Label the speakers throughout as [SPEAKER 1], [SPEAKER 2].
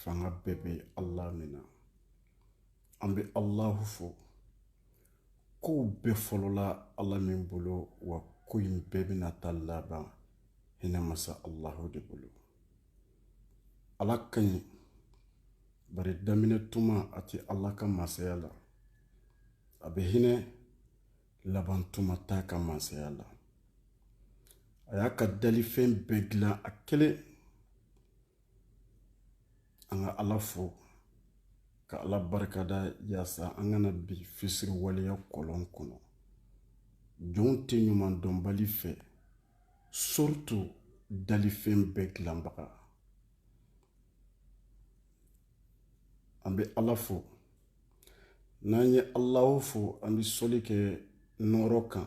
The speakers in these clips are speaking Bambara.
[SPEAKER 1] fanga bɛɛ bɛ allah min na an bɛ allahu fo kow bɛɛ fɔlɔla allah min bolo wa ko in bɛɛ bɛna taa laban hinɛ masa allahu de bolo ala ka ɲi bari daminɛ tuma a tɛ ala ka masaya la a bɛ hinɛ laban tuma t'a ka masaya la a y'a ka dalifɛn bɛɛ dilan a kelen an ka ala fo ka ala barikada yaasa an kana bin fisiriwaleya kɔlɔn kɔnɔ jɔnw tɛ ɲumandɔnbali fɛ surtout dalifɛn bɛɛ dilanbaga an bɛ ala fo n'an ye alahu fo an bɛ sɔli kɛ nɔɔrɔ kan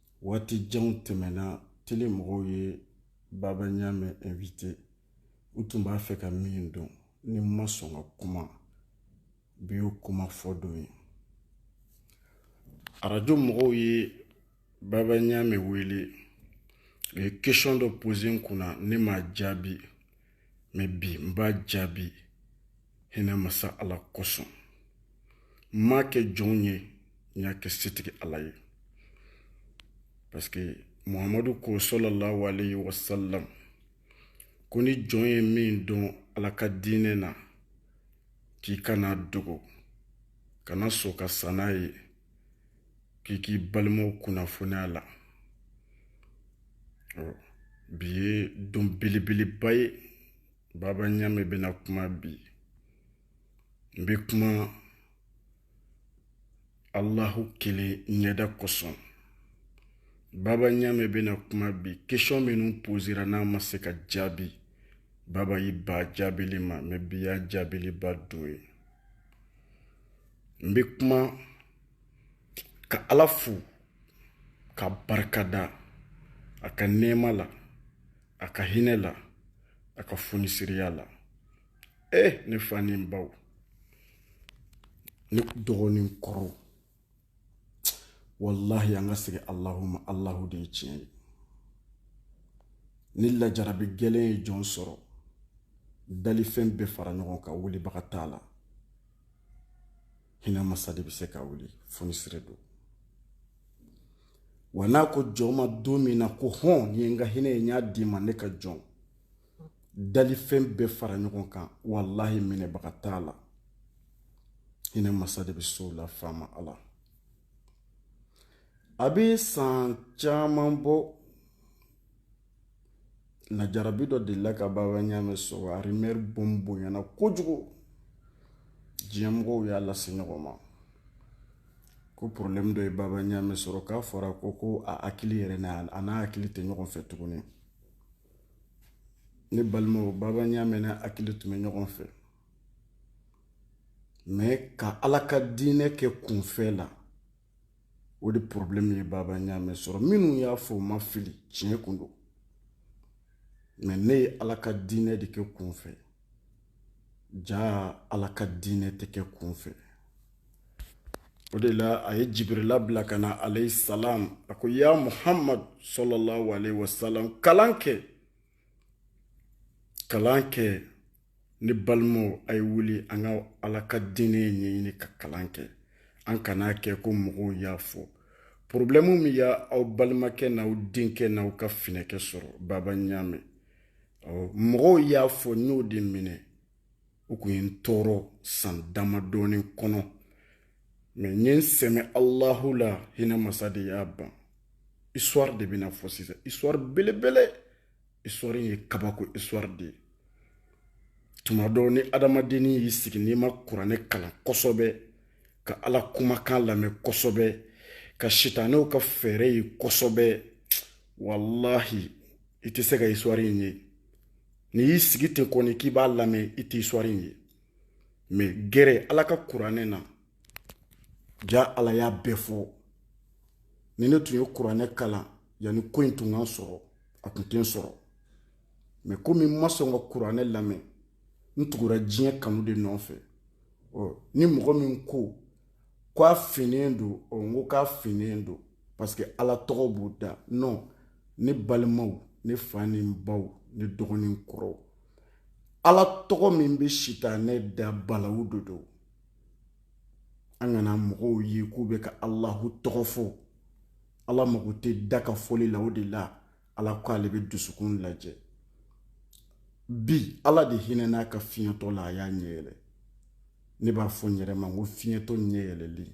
[SPEAKER 1] waati janw tɛmɛna tele mɔgɔw ye baba ɲamɛ invité u tun b'a fɛ ka min dɔn ne ma sɔn ka kuma bi y'o kuma fɔ don ye arajo mɔgɔw ye baba ɲamɛ wele u ye question dɔ posé n kunna ne m'a jaabi mɛ bi n b'a jaabi hinɛ masa ala kosɔn n m'a kɛ jɔn ye n y'a kɛ setigi ala ye paske muhamadu ko salalahu alayhi wasalam ko ni jɔn ye min dɔn ala ka diinɛ na k'i kan'a dogo kana sɔn ka sa n'a ye k'i k'i balimaw kunnafoni a la bi ye don belebeleba ye Baba Ɲame bɛna kuma bi n bɛ kuma Alahu kelen ɲɛda kosɔn Baba Ɲame bɛna kuma bi question minnu pozera n'a ma se ka jaabi Baba y'i ban jaabili ma mɛ bi y'a jaabiliba don ye n bɛ kuma ka Ala fo k'a barikada a ka nɛɛma la a ka hinɛ la a ka fonisireya la e ne fa ni n baw ne dɔgɔ ni n kɔrɔw walahi an ka segin alahu ma alahu de ye tiɲɛ ye ni lajarabi gɛlɛn ye jɔn sɔrɔ dalifɛn bɛɛ fara ɲɔgɔn kan wulibaga t'a la hinɛ masa de bɛ se k'a wuli fonisire don wa n'a ko jɔn ma don min na ko hɔn nin ye n ka hinɛ ye n y'a d'i ma ne ka jɔn dalifɛn bɛɛ fara ɲɔgɔn kan walahi minɛbaga t'a la hinɛ masa de bɛ s'o la faama ala a bɛ san caman bɔ lajarabi dɔ delila ka baba ɲaamɛ sɔrɔ a rumeur bon bonyana kojugu diɲɛmɔgɔw y'a lase ɲɔgɔn ma ko porobilɛmu dɔ ye baba ɲaamɛ sɔrɔ k'a fɔra ko ko a hakili yɛrɛ n'a a n'a hakili tɛ ɲɔgɔn fɛ tuguni ne balimaw baba ɲaamɛ n'a hakili tun bɛ ɲɔgɔn fɛ mɛ ka ala ka diinɛ kɛ kunfɛ la o de problème ye baba ɲaamɛ sɔrɔ minnu y'a fɔ u ma fili tiɲɛ kun don mɛ ne ye ala ka diinɛ de kɛ kun fɛ jaa ala ka diinɛ tɛ kɛ kun fɛ o de la a ye jibirila bila ka na alayhi salam a ko ya muhammad sallallahu alaihi wasallam kalan kɛ kalan kɛ ne balimaw a ye wuli an ka ala ka diinɛ ɲɛɲini ka kalan kɛ an kana kɛ ko mɔgɔw y'a fɔ porobilɛmu min ye aw balimakɛ n'aw denkɛ n'aw ka finɛkɛ sɔrɔ baba ɲaamɛ mɔgɔw y'a fɔ n y'o de minɛ u kun ye n tɔɔrɔ san damadɔnin kɔnɔ mɛ n ye n sɛmɛ alahu la hinɛ masa de y'a ban histoire de bɛna fɔ sisan histoire belebele histoire ye kabako histoire de ye tuma dɔw ni adamadennin y'i sigi n'i ma kuranɛ kalan kosɛbɛ ka ala kumakan lamɛn kosɛbɛ ka sitanɛw ka fɛɛrɛ ye kosɛbɛ walahi i tɛ se ka histoire in ye n'i y'i sigi ten kɔni k'i b'a lamɛn i tɛ histoire in ye mɛ gɛrɛ ala ka kuranɛ na jaa ala y'a bɛɛ fɔ ni ne tun ye kuranɛ kalan yanni ko in tun ka n sɔrɔ a tun tɛ n sɔrɔ mɛ komi n ma sɔn ka kuranɛ lamɛn n tugura diɲɛ kanu de nɔfɛ ɔ ni mɔgɔ min ko ko a finnen don ɔ n ko k'a finnen don parce que ala tɔgɔ b'u da non ne balimaw ne fa ni n baw ne dɔgɔ ni n kɔrɔw ala tɔgɔ min bɛ sitanɛ da balawu de don an kana mɔgɔw ye k'u bɛ ka alahu tɔgɔ fɔ ala mago tɛ da ka fɔli la o de la ala ko ale bɛ dusukun lajɛ bi ala de hinɛn'a ka fiɲɛtɔ la a y'a ɲɛ yɛlɛ ne b'a fɔ n yɛrɛ ma n ko fiɲɛtɔ ɲɛ yɛlɛlen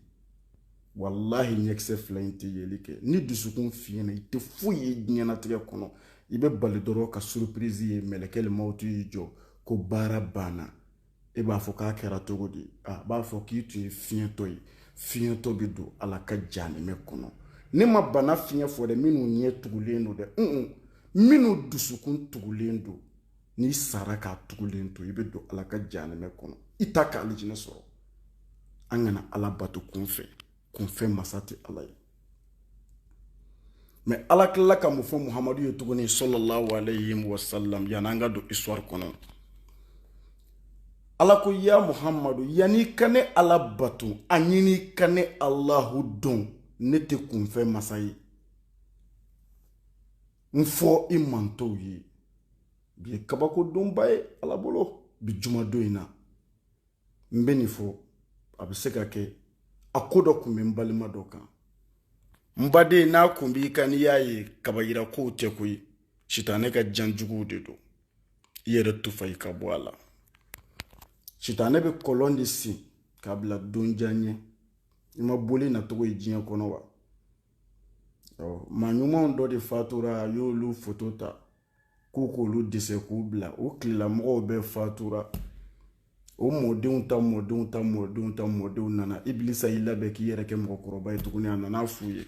[SPEAKER 1] walahi ɲɛkisɛ fila in tɛ yeli kɛ ni dusukun fiɲɛna i tɛ foyi ye diɲɛnatigɛ kɔnɔ i bɛ bali dɔrɔn ka surprise ye mɛlɛkɛ le mawutu y'i jɔ ko baara banna e b'a fɔ k'a kɛra cogo di a b'a fɔ k'i tun ye fiɲɛtɔ ye fiɲɛtɔ bɛ don ala ka janimɛ kɔnɔ ne ma bana fiɲɛ fɔ dɛ minnu ɲɛ tugulen don dɛ minnu dusukun tugulen don n'i sara k'a tugulen to i bɛ don ala ka janimɛ kɔnɔ i t'a k'alijinɛ sɔrɔ an kana ala bato kun fɛ kunfɛ masa tɛ ala ye mɛ ala tilala ka mun fɔ muhamadu ye tuguni sallallahu alayhi wa sallam yanni an ka don histoire kɔnɔ ala ko ya muhamadu yanni i ka ne ala bato a ɲini ka ne alahu dɔn ne tɛ kunfɛ masa ye n fɔ i mantɔnw ye bi ye kabakodonba ye ala bolo bi jumadon in na n bɛ nin fɔ a bɛ se ka kɛ a ko dɔ tun bɛ n balima dɔ kan n baden n'a kun b'i kan n'i y'a ye kaba yira kow tɛ koyi sitanɛ ka jan juguw de don i yɛrɛ tufa i ka bɔ a la sitanɛ bɛ kɔlɔn de sen k'a bila don jan ɲɛ i ma boli nacogo ye diɲɛ kɔnɔ wa maa ɲumanw dɔ de fatura a y'olu foto ta k'u k'olu desɛn k'u bila o tilelamɔgɔw bɛɛ fatura o mɔdenw ta mɔdenw ta mɔdenw ta mɔdenw nana ibilisa y'i labɛn k'i yɛrɛ kɛ mɔgɔkɔrɔba ye tuguni a nana f'u ye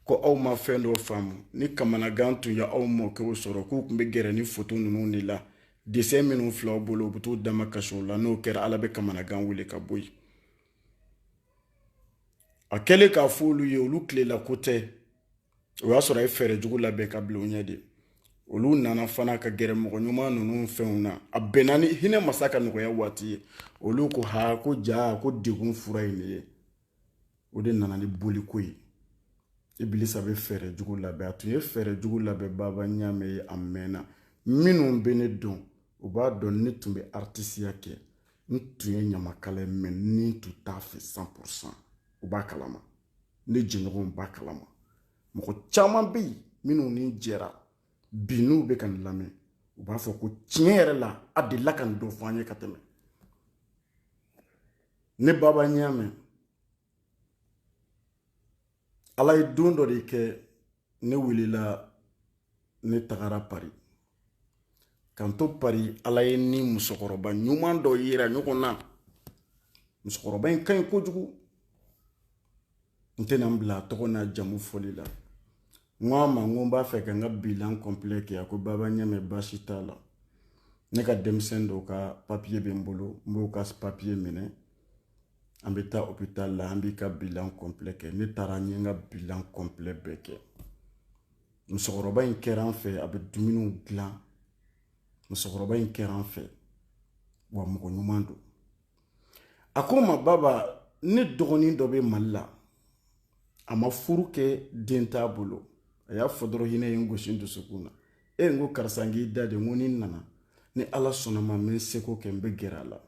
[SPEAKER 1] ko aw ma fɛn dɔ faamu ni kamanagan tun ye aw mɔkɛw sɔrɔ k'u tun bɛ gɛrɛ ni foto ninnu de la desɛn minnu fil'aw bolo u bɛ t'u damakasi o la n'o kɛra ala bɛ kamanagan wele ka bɔ yen a kɛlen k'a fɔ olu ye olu tilela ko tɛ o y'a sɔrɔ a ye fɛɛrɛ jugu labɛn k'a bila u ɲɛ de olu nana fana ka gɛrɛ mɔgɔ ɲuman ninnu fɛnw na a bɛnna ni hinɛ masa ka nɔgɔya waati ye olu ko ha ko ja ko degun fura ye nin ye o de nana ni boliko ye ibilisa bɛ fɛɛrɛ jugu labɛn a tun ye fɛɛrɛ jugu labɛn baba ɲamɛ ye a mɛnna minnu bɛ ne dɔn u b'a dɔn ne tun bɛ aritisiya kɛ n tun ye ɲamakala ye mɛ n tun t'a fɛ 100 u b'a kalama ne jɛɲɔgɔnw b'a kalama mɔgɔ caman bɛ yen minnu ni n jɛra bi n'u bɛ ka nin lamɛn u b'a fɔ ko tiɲɛ yɛrɛ la a delila ka nin dɔ fɔ an ye ka tɛmɛ ne baba ɲamɛ ala ye don dɔ de kɛ ne welela ne tagara pari k'an to pari ala ye n ni musokɔrɔba ɲuman dɔ yira ɲɔgɔn na musokɔrɔba in ka ɲi kojugu n tɛna n bila a tɔgɔ n'a jamu fɔli la n ko a ma n ko n b'a fɛ ka n ka bilan kɔnpilɛ kɛ a ko baba ɲamɛ baasi t'a la ne ka denmisɛn dɔw ka papiye bɛ n bolo n b'o ka papiye minɛ an bɛ taa hopitali la an b'i ka bilan kɔnpilɛ kɛ ne taara n ye n ka bilan kɔnpilɛ bɛɛ kɛ musokɔrɔba in kɛra an fɛ a bɛ dumuniw dilan musokɔrɔba in kɛra an fɛ wa mɔgɔ ɲuman don a ko n ma baba ne dɔgɔnin dɔ bɛ mali la a ma furu kɛ den t'a bolo a y'a fɔ dɔrɔn hinɛ ye n gosi n dusukun na e n ko karisa n k'i da de n ko ni n nana ni ala sɔnna ma n bɛ n seko kɛ n bɛ gɛrɛ a la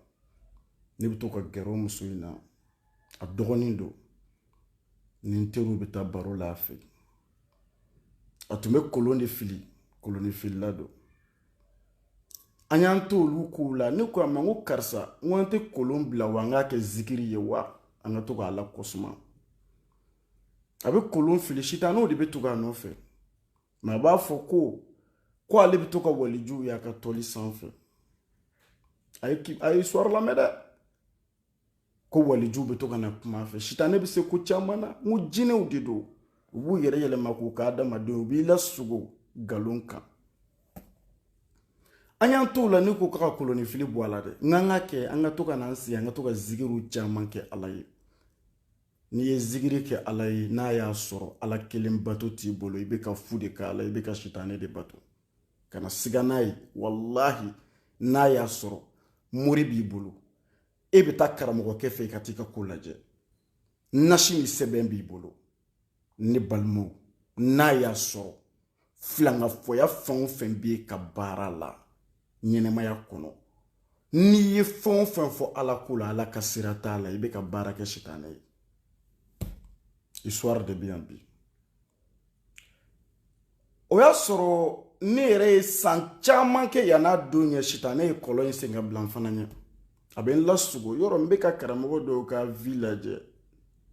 [SPEAKER 1] ne bɛ to ka gɛrɛ o muso in na a dɔgɔnin don ni n teriw bɛ taa baro la a fɛ a tun bɛ kolon de fili kolonifilila don an y'an to olu kow la ne ko a ma n ko karisa n ko an tɛ kolon bila wa an k'a kɛ zikiri ye wa an ka to k'ala ko suma a bɛ kolon fili sitanɛw de bɛ tugu a nɔfɛ mais a b'a fɔ ko ko ale bɛ to ka walijuw y'a ka tɔli sanfɛ a ye histoire lamɛn dɛ ko walijuw bɛ to ka na kuma a fɛ sitanɛ bɛ se ko caman na n ko jinɛw de don u b'u yɛrɛ yɛlɛma k'u kɛ adamadenw u b'i lasugo nkalon kan an y'an t'o la ne ko k'a ka kolonifili bɔ a la dɛ n k'an ka kɛ an ka to ka n'an sigi an ka to ka zikiriw caman kɛ ala ye n'i ye zikiri kɛ ala ye n'a y'a sɔrɔ ala kelen bato t'i bolo i bɛ ka fu de kɛ ala i bɛ ka sitanɛ de bato kana siga n'a ye walahi n'a y'a sɔrɔ mori b'i bolo e bɛ taa karamɔgɔkɛ fɛ i ka t'i ka ko lajɛ nasi ni sɛbɛn b'i bolo ne balimaw n'a y'a sɔrɔ filangafɔya fɛn o fɛn b'i ka baara la ɲɛnamaya kɔnɔ n'i ye fɛn o fɛn fɔ ala ko la ala ka sira t'a la i bɛ ka baara kɛ sitanɛ ye histoire de bɛ yan bi o y'a sɔrɔ ne yɛrɛ ye san caman kɛ yan n'a don ɲɛ sitanɛ ye kɔlɔn in sen ka bila n fana ɲɛ a bɛ n lasugo yɔrɔ n bɛ ka karamɔgɔ dɔw ka vie lajɛ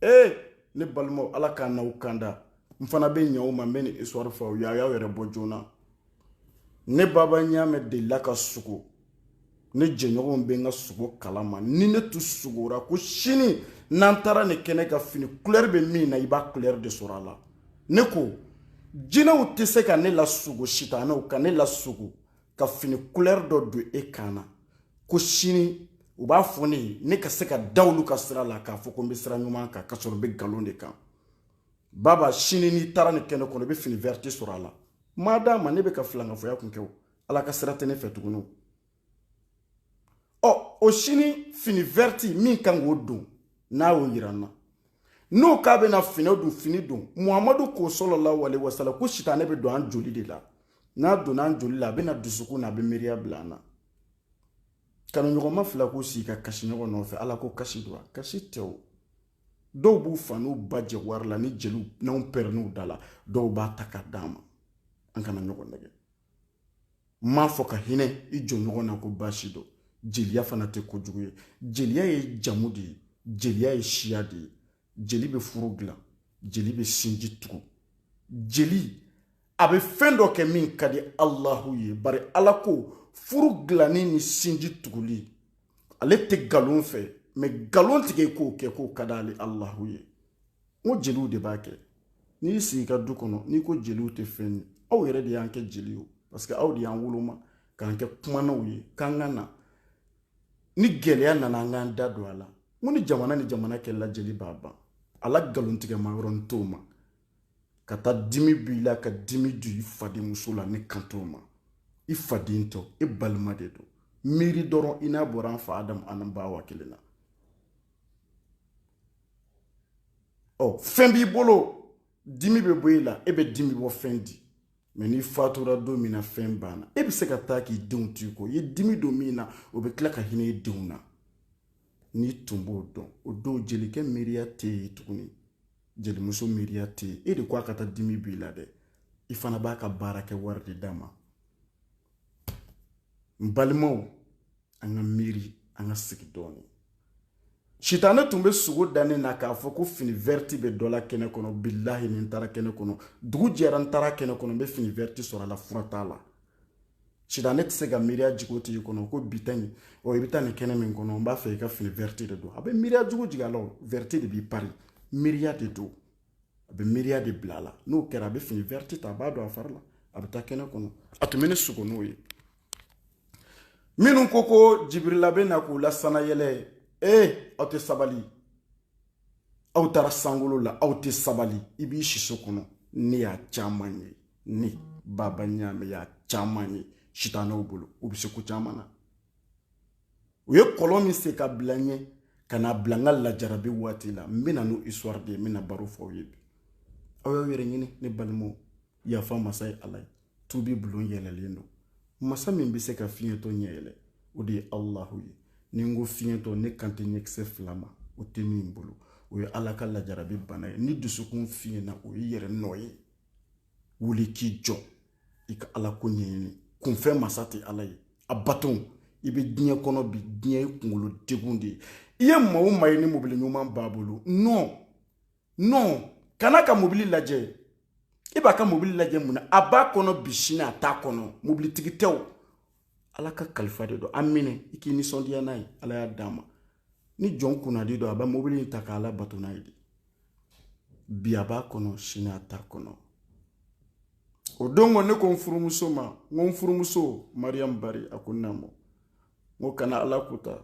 [SPEAKER 1] ee ne balimaw ala k'an n'aw kanda n fana bɛ ɲɛ o ma n bɛ nin histoire fɔ aw ye a y'aw yɛrɛ bɔ joona ne baba ɲaamɛ delila ka sugo ne jɛɲɔgɔnw bɛ n ka sugo kalama ni ne tun sugora ko sini n'an taara nin kɛnɛ kan fini kulɛri bɛ min na i b'a kulɛri de sɔrɔ a la ne ko jinɛw tɛ se ka ne lasugo sitanɛw ka ne lasugo ka fini kulɛri dɔ don e kan na ko sini u b'a fɔ ne ye ne ka se ka da olu ka sira la k'a fɔ ko n bɛ sira ɲuman kan ka sɔrɔ n bɛ nkalon de kan baba sini n'i taara nin kɛnɛ kɔnɔ i bɛ fini verte sɔrɔ a la ma d'a ma ne bɛ ka filankafoya kun kɛ o ala ka sira tɛ ne fɛ tuguni ɔ o sini fini verte min kan k'o don n'a y'o yira n na n'o k'a bɛna fini don fini don muhamadu ko sallallahu alaihi wasallam ko sitanɛ bɛ don an joli de la n'a donna an joli la a bɛ na dusukun na a bɛ miiriya bila an na kanuɲɔgɔnma fila k'u sigi ka kasi ɲɔgɔn nɔfɛ ala ko kasi don wa kasi tɛ o dɔw b'u fa n'u ba jɛ wari la ni jeliw n'anw pɛrɛnn'u da la dɔw b'a ta ka d'an ma an kana ɲɔgɔn nɛgɛ n m'a fɔ ka hinɛ i jɔn ɲɔgɔn na ko baasi don jeliya fana tɛ kojugu ye jeliya ye jamu de ye jeliya ye siya de ye jeli bɛ furu dilan jeli bɛ sinji tugu jeli a bɛ fɛn dɔ kɛ min ka di alahu ye bari ala ko furu dilanni ni sinji tuguli ale tɛ nkalon fɛ mɛ nkalon tigɛ k'o kɛ k'o ka di ale alahu ye n ko jeliw de b'a kɛ n'i y'i sigi i ka du kɔnɔ n'i ko jeliw tɛ fɛn ye aw yɛrɛ de y'an kɛ jeli ye parce que aw de y'an woloma k'an kɛ kumanaw ye k'an ka na ni gɛlɛya nana an k'an da don a la n ko ni jamana ni jamana kɛlɛla jeli b'a ban a la nkalontigɛma yɔrɔ n t'o ma ka taa dimi b'i la ka dimi don i fadenmuso la ne kan t'o ma i faden tɔ e balima de don miiri dɔrɔn i n'a bɔra an fa adamu ani ba awa kelen na ɔ fɛn b'i bolo dimi bɛ bɔ e la e bɛ dimi bɔ fɛn di mɛ n'i fatura don min na fɛn banna e bɛ se ka taa k'i denw t'i kɔ i ye dimi don min na o bɛ tila ka hinɛ i denw na n'i tun b'o dɔn o don jelikɛ miiriya tɛ yen tuguni jelimuso miiriya tɛ yen e de ko a ka taa dimi b'i la dɛ i fana b'a ka baara kɛ wari de d'a ma n balimaw an ka miiri an ka sigi dɔɔni sitanɛ tun bɛ sogo da ne na k'a fɔ ko fini vɛriti bɛ dɔ la kɛnɛ kɔnɔ bilahi ni n taara kɛnɛ kɔnɔ dugu jɛra n taara kɛnɛ kɔnɔ n bɛ fini vɛriti sɔrɔ a la fura t'a la sitanɛ tɛ se ka miiriya jugu t'i kɔnɔ ko bi ta in ɔ i bɛ taa nin kɛnɛ min kɔnɔ n b'a fɛ i ka fini vɛrɛti de don a bɛ miiriya jugu jigin a la o vɛrɛti de b'i pari miiriya de don a bɛ miiriya de bila a la n'o kɛra a bɛ fini vɛrɛti ta a b'a don a fari la a bɛ taa kɛnɛ kɔnɔ a tun bɛ ne sogo n'o ye minnu ko ko jibirila bɛ na k'u lasanayɛlɛ ee aw tɛ sabali aw taara sankolo la aw tɛ sabali i b'i siso kɔnɔ ne y'a caman ye ne baba ɲaamɛ y'a caman ye sitanɛw bolo u bɛ se ko caman na u ye kɔlɔn min sen ka bila n ɲɛ ka n'a bila n ka lajarabi waati la n bɛna n'o histoire de ye n bɛna baro fɔ aw ye bi aw y'aw yɛrɛ ɲini ne balimaw yafa masa ye ala ye tubi bulon yɛlɛlen don masa min bɛ se ka fiɲɛtɔ ɲɛ yɛlɛ o de ye alahu ye ni n ko fiɲɛtɔ ne kan tɛ ɲɛkisɛ fila ma o tɛ min bolo o ye ala ka lajarabi bana ye ni dusukun fiɲɛna o ye yɛrɛ nɔ ye wuli k'i jɔ i ka ala ko ɲɛɲini kunfɛ masa tɛ ala ye a bato i bɛ diɲɛ kɔnɔ bi diɲɛ ye kunkolo degun de ye i ye maa o maa ye ni mobili ɲuman b'a bolo nɔn non kana ka mobili lajɛ i b'a ka mobili lajɛ mun na a b'a kɔnɔ bi sini a t'a kɔnɔ mobilitigi tɛ o ala ka kalifa de don a minɛ i k'i nisɔndiya n'a ye ala y'a d'a ma ni jɔn kunnadi don a bɛ mobili in ta ka ala bato n'a ye de bi a b'a kɔnɔ sini a t'a kɔnɔ o don kɔ ne ko n furumuso ma n ko n furumuso mariyamu bari a ko naamu n ko kana ala kota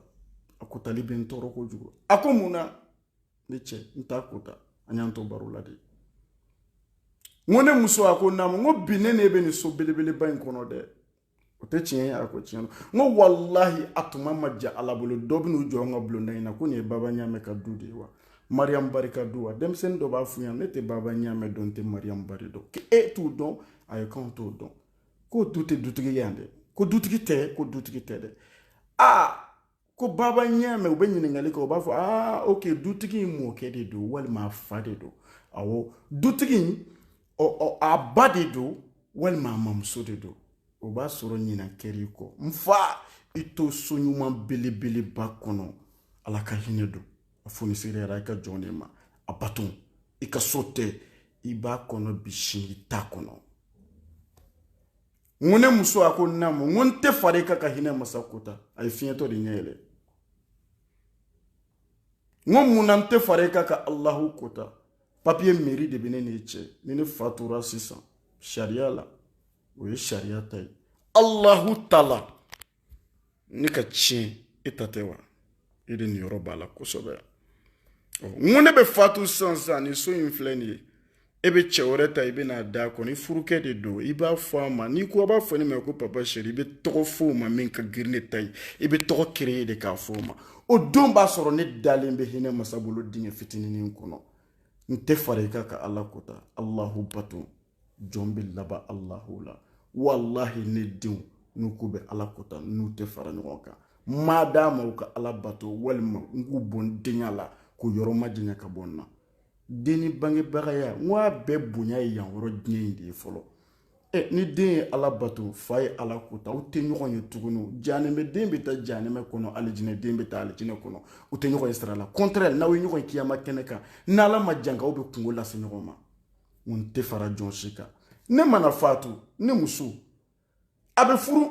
[SPEAKER 1] a kotali bɛ n tɔɔrɔ kojugu a ko mun na ne cɛ n t'a kota an y'an to baro la de n ko ne muso a ko naamu n ko bi ne n'e bɛ nin so belebeleba in kɔnɔ dɛ o tɛ tiɲɛ ye a ko tiɲɛ don n ko walahi a tuma man jan ala bolo dɔw bɛ n'u jɔ an ka bulonda in na ko nin ye baba ɲaamɛ ka du de ye wa mariyamu bari ka du wa denmisɛnnin dɔ b'a f'u ɲɛna ne tɛ baba ɲaamɛ dɔn n tɛ mariyamu bari dɔn k'e t'u dɔn ayi k'anw t'o dɔn k'olu tɛ dutigi ye yan dɛ ko dutigi tɛ ko dutigi tɛ dɛ aa ko baba ɲaamɛ u bɛ ɲininkali kɛ u b'a fɔ aa ok dutigi in mɔkɛ de don walima a fa de don awɔ dutigi in a ba de don walima a mamuso de don o b'a sɔrɔ ɲina kɛr'i kɔ n fa i to so ɲuman belebeleba kɔnɔ ala ka hinɛ don a fonisereyara i ka jɔn de ma a bato i ka so tɛ i b'a kɔnɔ bi sini i t'a kɔnɔ n ko ne muso a ko naamu n ko n tɛ fara i kan ka hinɛ masa kota a ye fiyentɔ de ɲɛ yɛlɛ n ko mun na n tɛ fara i kan ka alahu kota papiye meri de bɛ ne n'i cɛ ni ne fatura sisan sariya la o ye sariya ta ye alahu taala ne ka tiɲɛ e ta tɛ wa e de niyɔrɔ b'a la kosɛbɛ n ko ne bɛ fatu sisan sisan nin so in filɛ nin ye e bɛ cɛ wɛrɛ ta i bɛ n'a d'a kɔnɔ i furukɛ de don i b'a fɔ a ma n'i ko a b'a fɔ ne ma ko papa seri i bɛ tɔgɔ fɔ o ma min ka girin ne ta ye i bɛ tɔgɔ kere de k'a fɔ o ma o don b'a sɔrɔ ne dalen bɛ hinɛ masa bolo dingɛ fitinin kɔnɔ n tɛ fara i kan ka ala kota alahu bato jɔn bɛ laban alahu la walahi ne denw n'u k'u bɛ ala kota n'u tɛ fara ɲɔgɔn kan ma d'a ma u ka ala bato walima n k'u bɔ n denya la k'u yɔrɔ majanya ka bɔ n na den ni bangebagaya n ko a bɛɛ bonya ye yan yɔrɔ diɲɛ in de ye fɔlɔ ɛ ni den ye ala bato fa ye ala kota u tɛ ɲɔgɔn ye tuguni janɛmɛ den bɛ taa janɛmɛ kɔnɔ alijinɛ den bɛ taa alijinɛ kɔnɔ u tɛ ɲɔgɔn ye sira la kɔntɛrɛ n'aw ye ɲɔgɔn ye kiyama kɛnɛ kan n'ala ma janka aw bɛ kunko lase ɲɔgɔn ma n tɛ fara jɔn si kan ne mana faatu ne muso a bɛ furu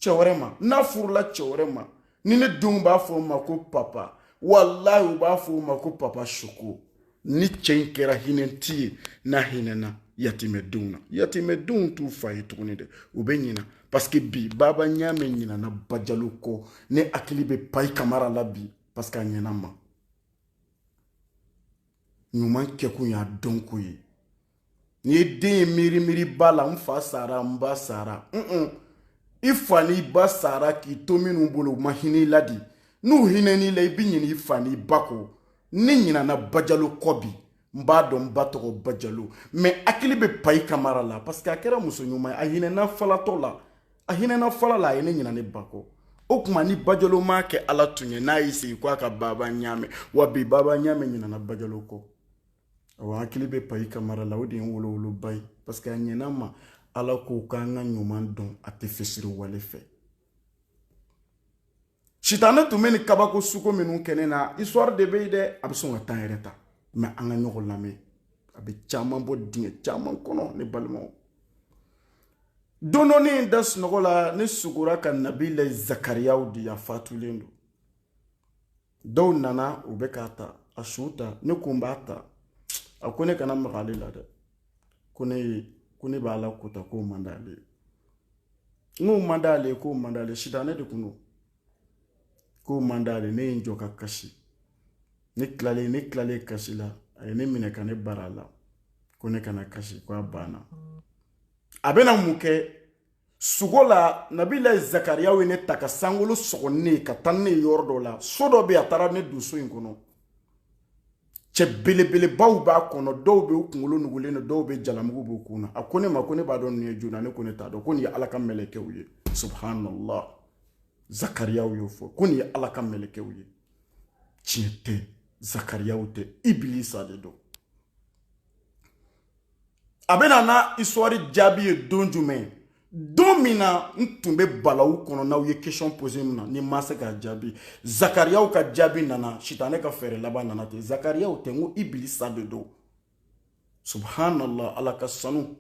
[SPEAKER 1] cɛ wɛrɛ ma n'a furula cɛ wɛrɛ ma ni ne denw b'a fɔ o ma ko papa walayi u b'a fɔ o ma ko papa soko ni cɛ in kɛra hinɛti ye n'a hinɛna yatimɛdenw na yatimɛdenw t'u fa ye tuguni dɛ u bɛ ɲina paseke bi baba ɲaamɛ ɲinana bajalo kɔ ne hakili bɛ payi kamara la bi paseke a ɲɛnama ɲuman kɛkun y'a dɔn ko ye n'i ye den ye miiri miiri ba la n fa sara n ba sara un i fa n'i ba sara k'i to minnu bolo u ma hinɛ i la dɛ n'u hinɛn'i la i bɛ ɲinɛ i fa n'i ba kɔ ne ɲinɛna bajalo kɔ bi n b'a dɔn n ba tɔgɔ bajalo mais hakili bɛ payi kamara la parce que a kɛra muso ɲuman ye a hinɛna falatɔ la a hinɛna fala la a ye ne ɲina ne ba kɔ o tuma ni bajalo m'a kɛ ala tun ye n'a y'i sigi ko a ka baba ɲaamɛ wa bi baba ɲaamɛ ɲinana bajalo kɔ awa hakili bɛ payi kamara la o de ye n wolowoloba ye parce que a ɲɛna ma ala ko k'an ka ɲuman dɔn a tɛ fisiriwale fɛ sitanɛ tun bɛ ni kabako sugu minnu kɛ ne na histoire de bɛ yen dɛ a bɛ sɔn ka temps yɛrɛ ta mais an ka ɲɔgɔn lamɛn a bɛ caman bɔ dingɛ caman kɔnɔ ne balimaw don dɔ ne da sunɔgɔ la ne sugora ka nabila zakariyaw di a fatulen don dɔw nana u bɛ k'a ta a su ta ne ko n b'a ta a ko ne kana maga ale la dɛ ko ne ye ko ne b'a la k'o ta k'o man d'ale ye n k'o man d'ale ye k'o man d'ale sitanɛ de tun don k'o man d'ale ne ye n jɔ ka kasi ne tilalen ne tilalen kasi la a ye ne minɛ ka ne bara la ko ne kana kasi ko a banna a bɛna mun kɛ sugo la nabila zakariyaw ye ne ta ka sankolo sɔgɔ ne ye ka taa ne ye yɔrɔ dɔ la so dɔ bɛ yen a taara ne don so in kɔnɔ cɛ belebelebaw b'a kɔnɔ dɔw bɛ u kunkolo nugulen don dɔw bɛ jalamugu b'u kun na a ko ne ma ko ne b'a dɔn nin ye jona ne ko ne t'a dɔn ko nin ye ala ka mɛlɛkɛw ye subhanallah zakariyaw y'o fɔ ko nin ye ala ka mɛlɛkɛw ye tiɲɛ tɛ zakariyaw tɛ ibilisa de don a bɛna n'a histoire jaabi ye don jumɛn don min na n tun bɛ balawu kɔnɔ n'aw ye question posé min na ne ma se k'a jaabi zakariyaw ka jaabi nana sitanɛ ka fɛɛrɛ laban nana ten zakariyaw tɛ n ko ibilisa de don subhanallah ala ka sanu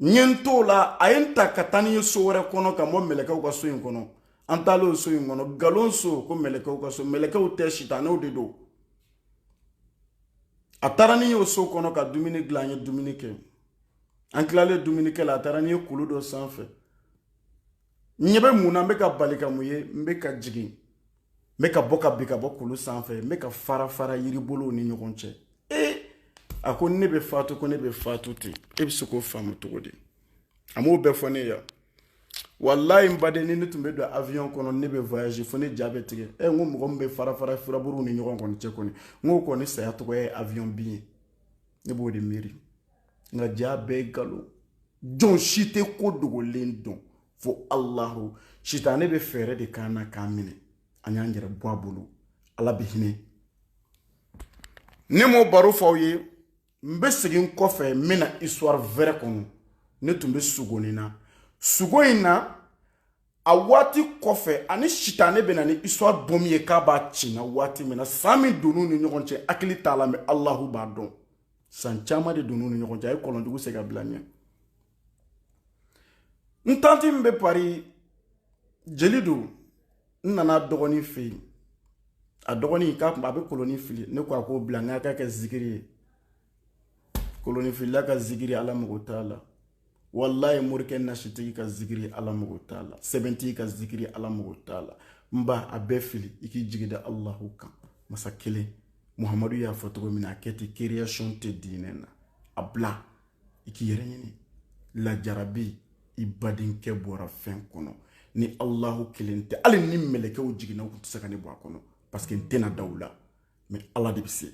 [SPEAKER 1] n ye n t'o la a ye n ta ka taa ni ye so wɛrɛ kɔnɔ ka bɔ mɛlɛkɛw ka so in kɔnɔ an taalen o so in kɔnɔ galon so ko mɛlɛkɛw ka so mɛlɛkɛw tɛ sitanɛw de don a taara ni y'o so kɔnɔ ka dumuni dilan an ye dumuni kɛ an tilalen dumunikɛ la a taara ni ye kulu dɔ sanfɛ n ɲɛ bɛ mun na n bɛ ka bali ka mun ye n bɛ ka jigin n bɛ ka bɔ ka bin ka bɔ kulu sanfɛ n bɛ ka fara fara yiribolow ni ɲɔgɔn cɛ ee a ko ne bɛ faatu ko ne bɛ faatu ten e bɛ se k'o faamu cogo di a m'o bɛɛ fɔ ne ye yan walayi n baden ni ne tun bɛ don avion kɔnɔ ne bɛ voyage fo ne ja bɛ tigɛ ɛ eh, n ko mɔgɔ min bɛ fara fara furaburuw ni ɲɔgɔn kɔni cɛ kɔni n k'o kɔni saya tɔgɔ ye avion bin ye ne b'o de miiri nka jaa bɛɛ nkalon jɔn si tɛ ko dogolen dɔn fo alahu sitanɛ bɛ fɛɛrɛ de k'an na k'an minɛ an y'an yɛrɛ bɔ a bolo ala bɛ hinɛ ne m'o baro fɔ aw ye n bɛ segin kɔfɛ n bɛna histoire wɛrɛ kɔnɔ ne tun bɛ sugo nin na sugo in na a waati kɔfɛ ani sitanɛ bɛ na ni histoire bɔmi ye k'a b'a ci n na waati min na san min donn'u ni ɲɔgɔn cɛ hakili t'a la mais alahu b'a dɔn san caman de donn'u ni ɲɔgɔn cɛ a ye kɔlɔn jugu sen ka bila n ɲɛ n tanti min bɛ Paris jeli don n nan'a dɔgɔnin fɛ yen a dɔgɔnin k'a kun a bɛ kolonin fili ne ko a k'o bila n k'a kɛ zikiri ye kolonin filila ka zikiri ala mago t'a la walayi morikɛ nasitigi ka zikiri ala mago t'a la sɛbɛntigi ka zikiri ala mago t'a la n ba a bɛɛ fili i k'i jigi da alahu kan masa kelen muhamadu y'a fɔ cogo min na a kɛ ten création tɛ diinɛ na a bila i k'i yɛrɛ ɲini lajarabi i badenkɛ bɔra fɛn kɔnɔ ni alahu kelen tɛ hali ni mɛlɛkɛw jiginna u tun tɛ se ka ne bɔ a kɔnɔ parce que n tɛna da u la mais ala de bɛ se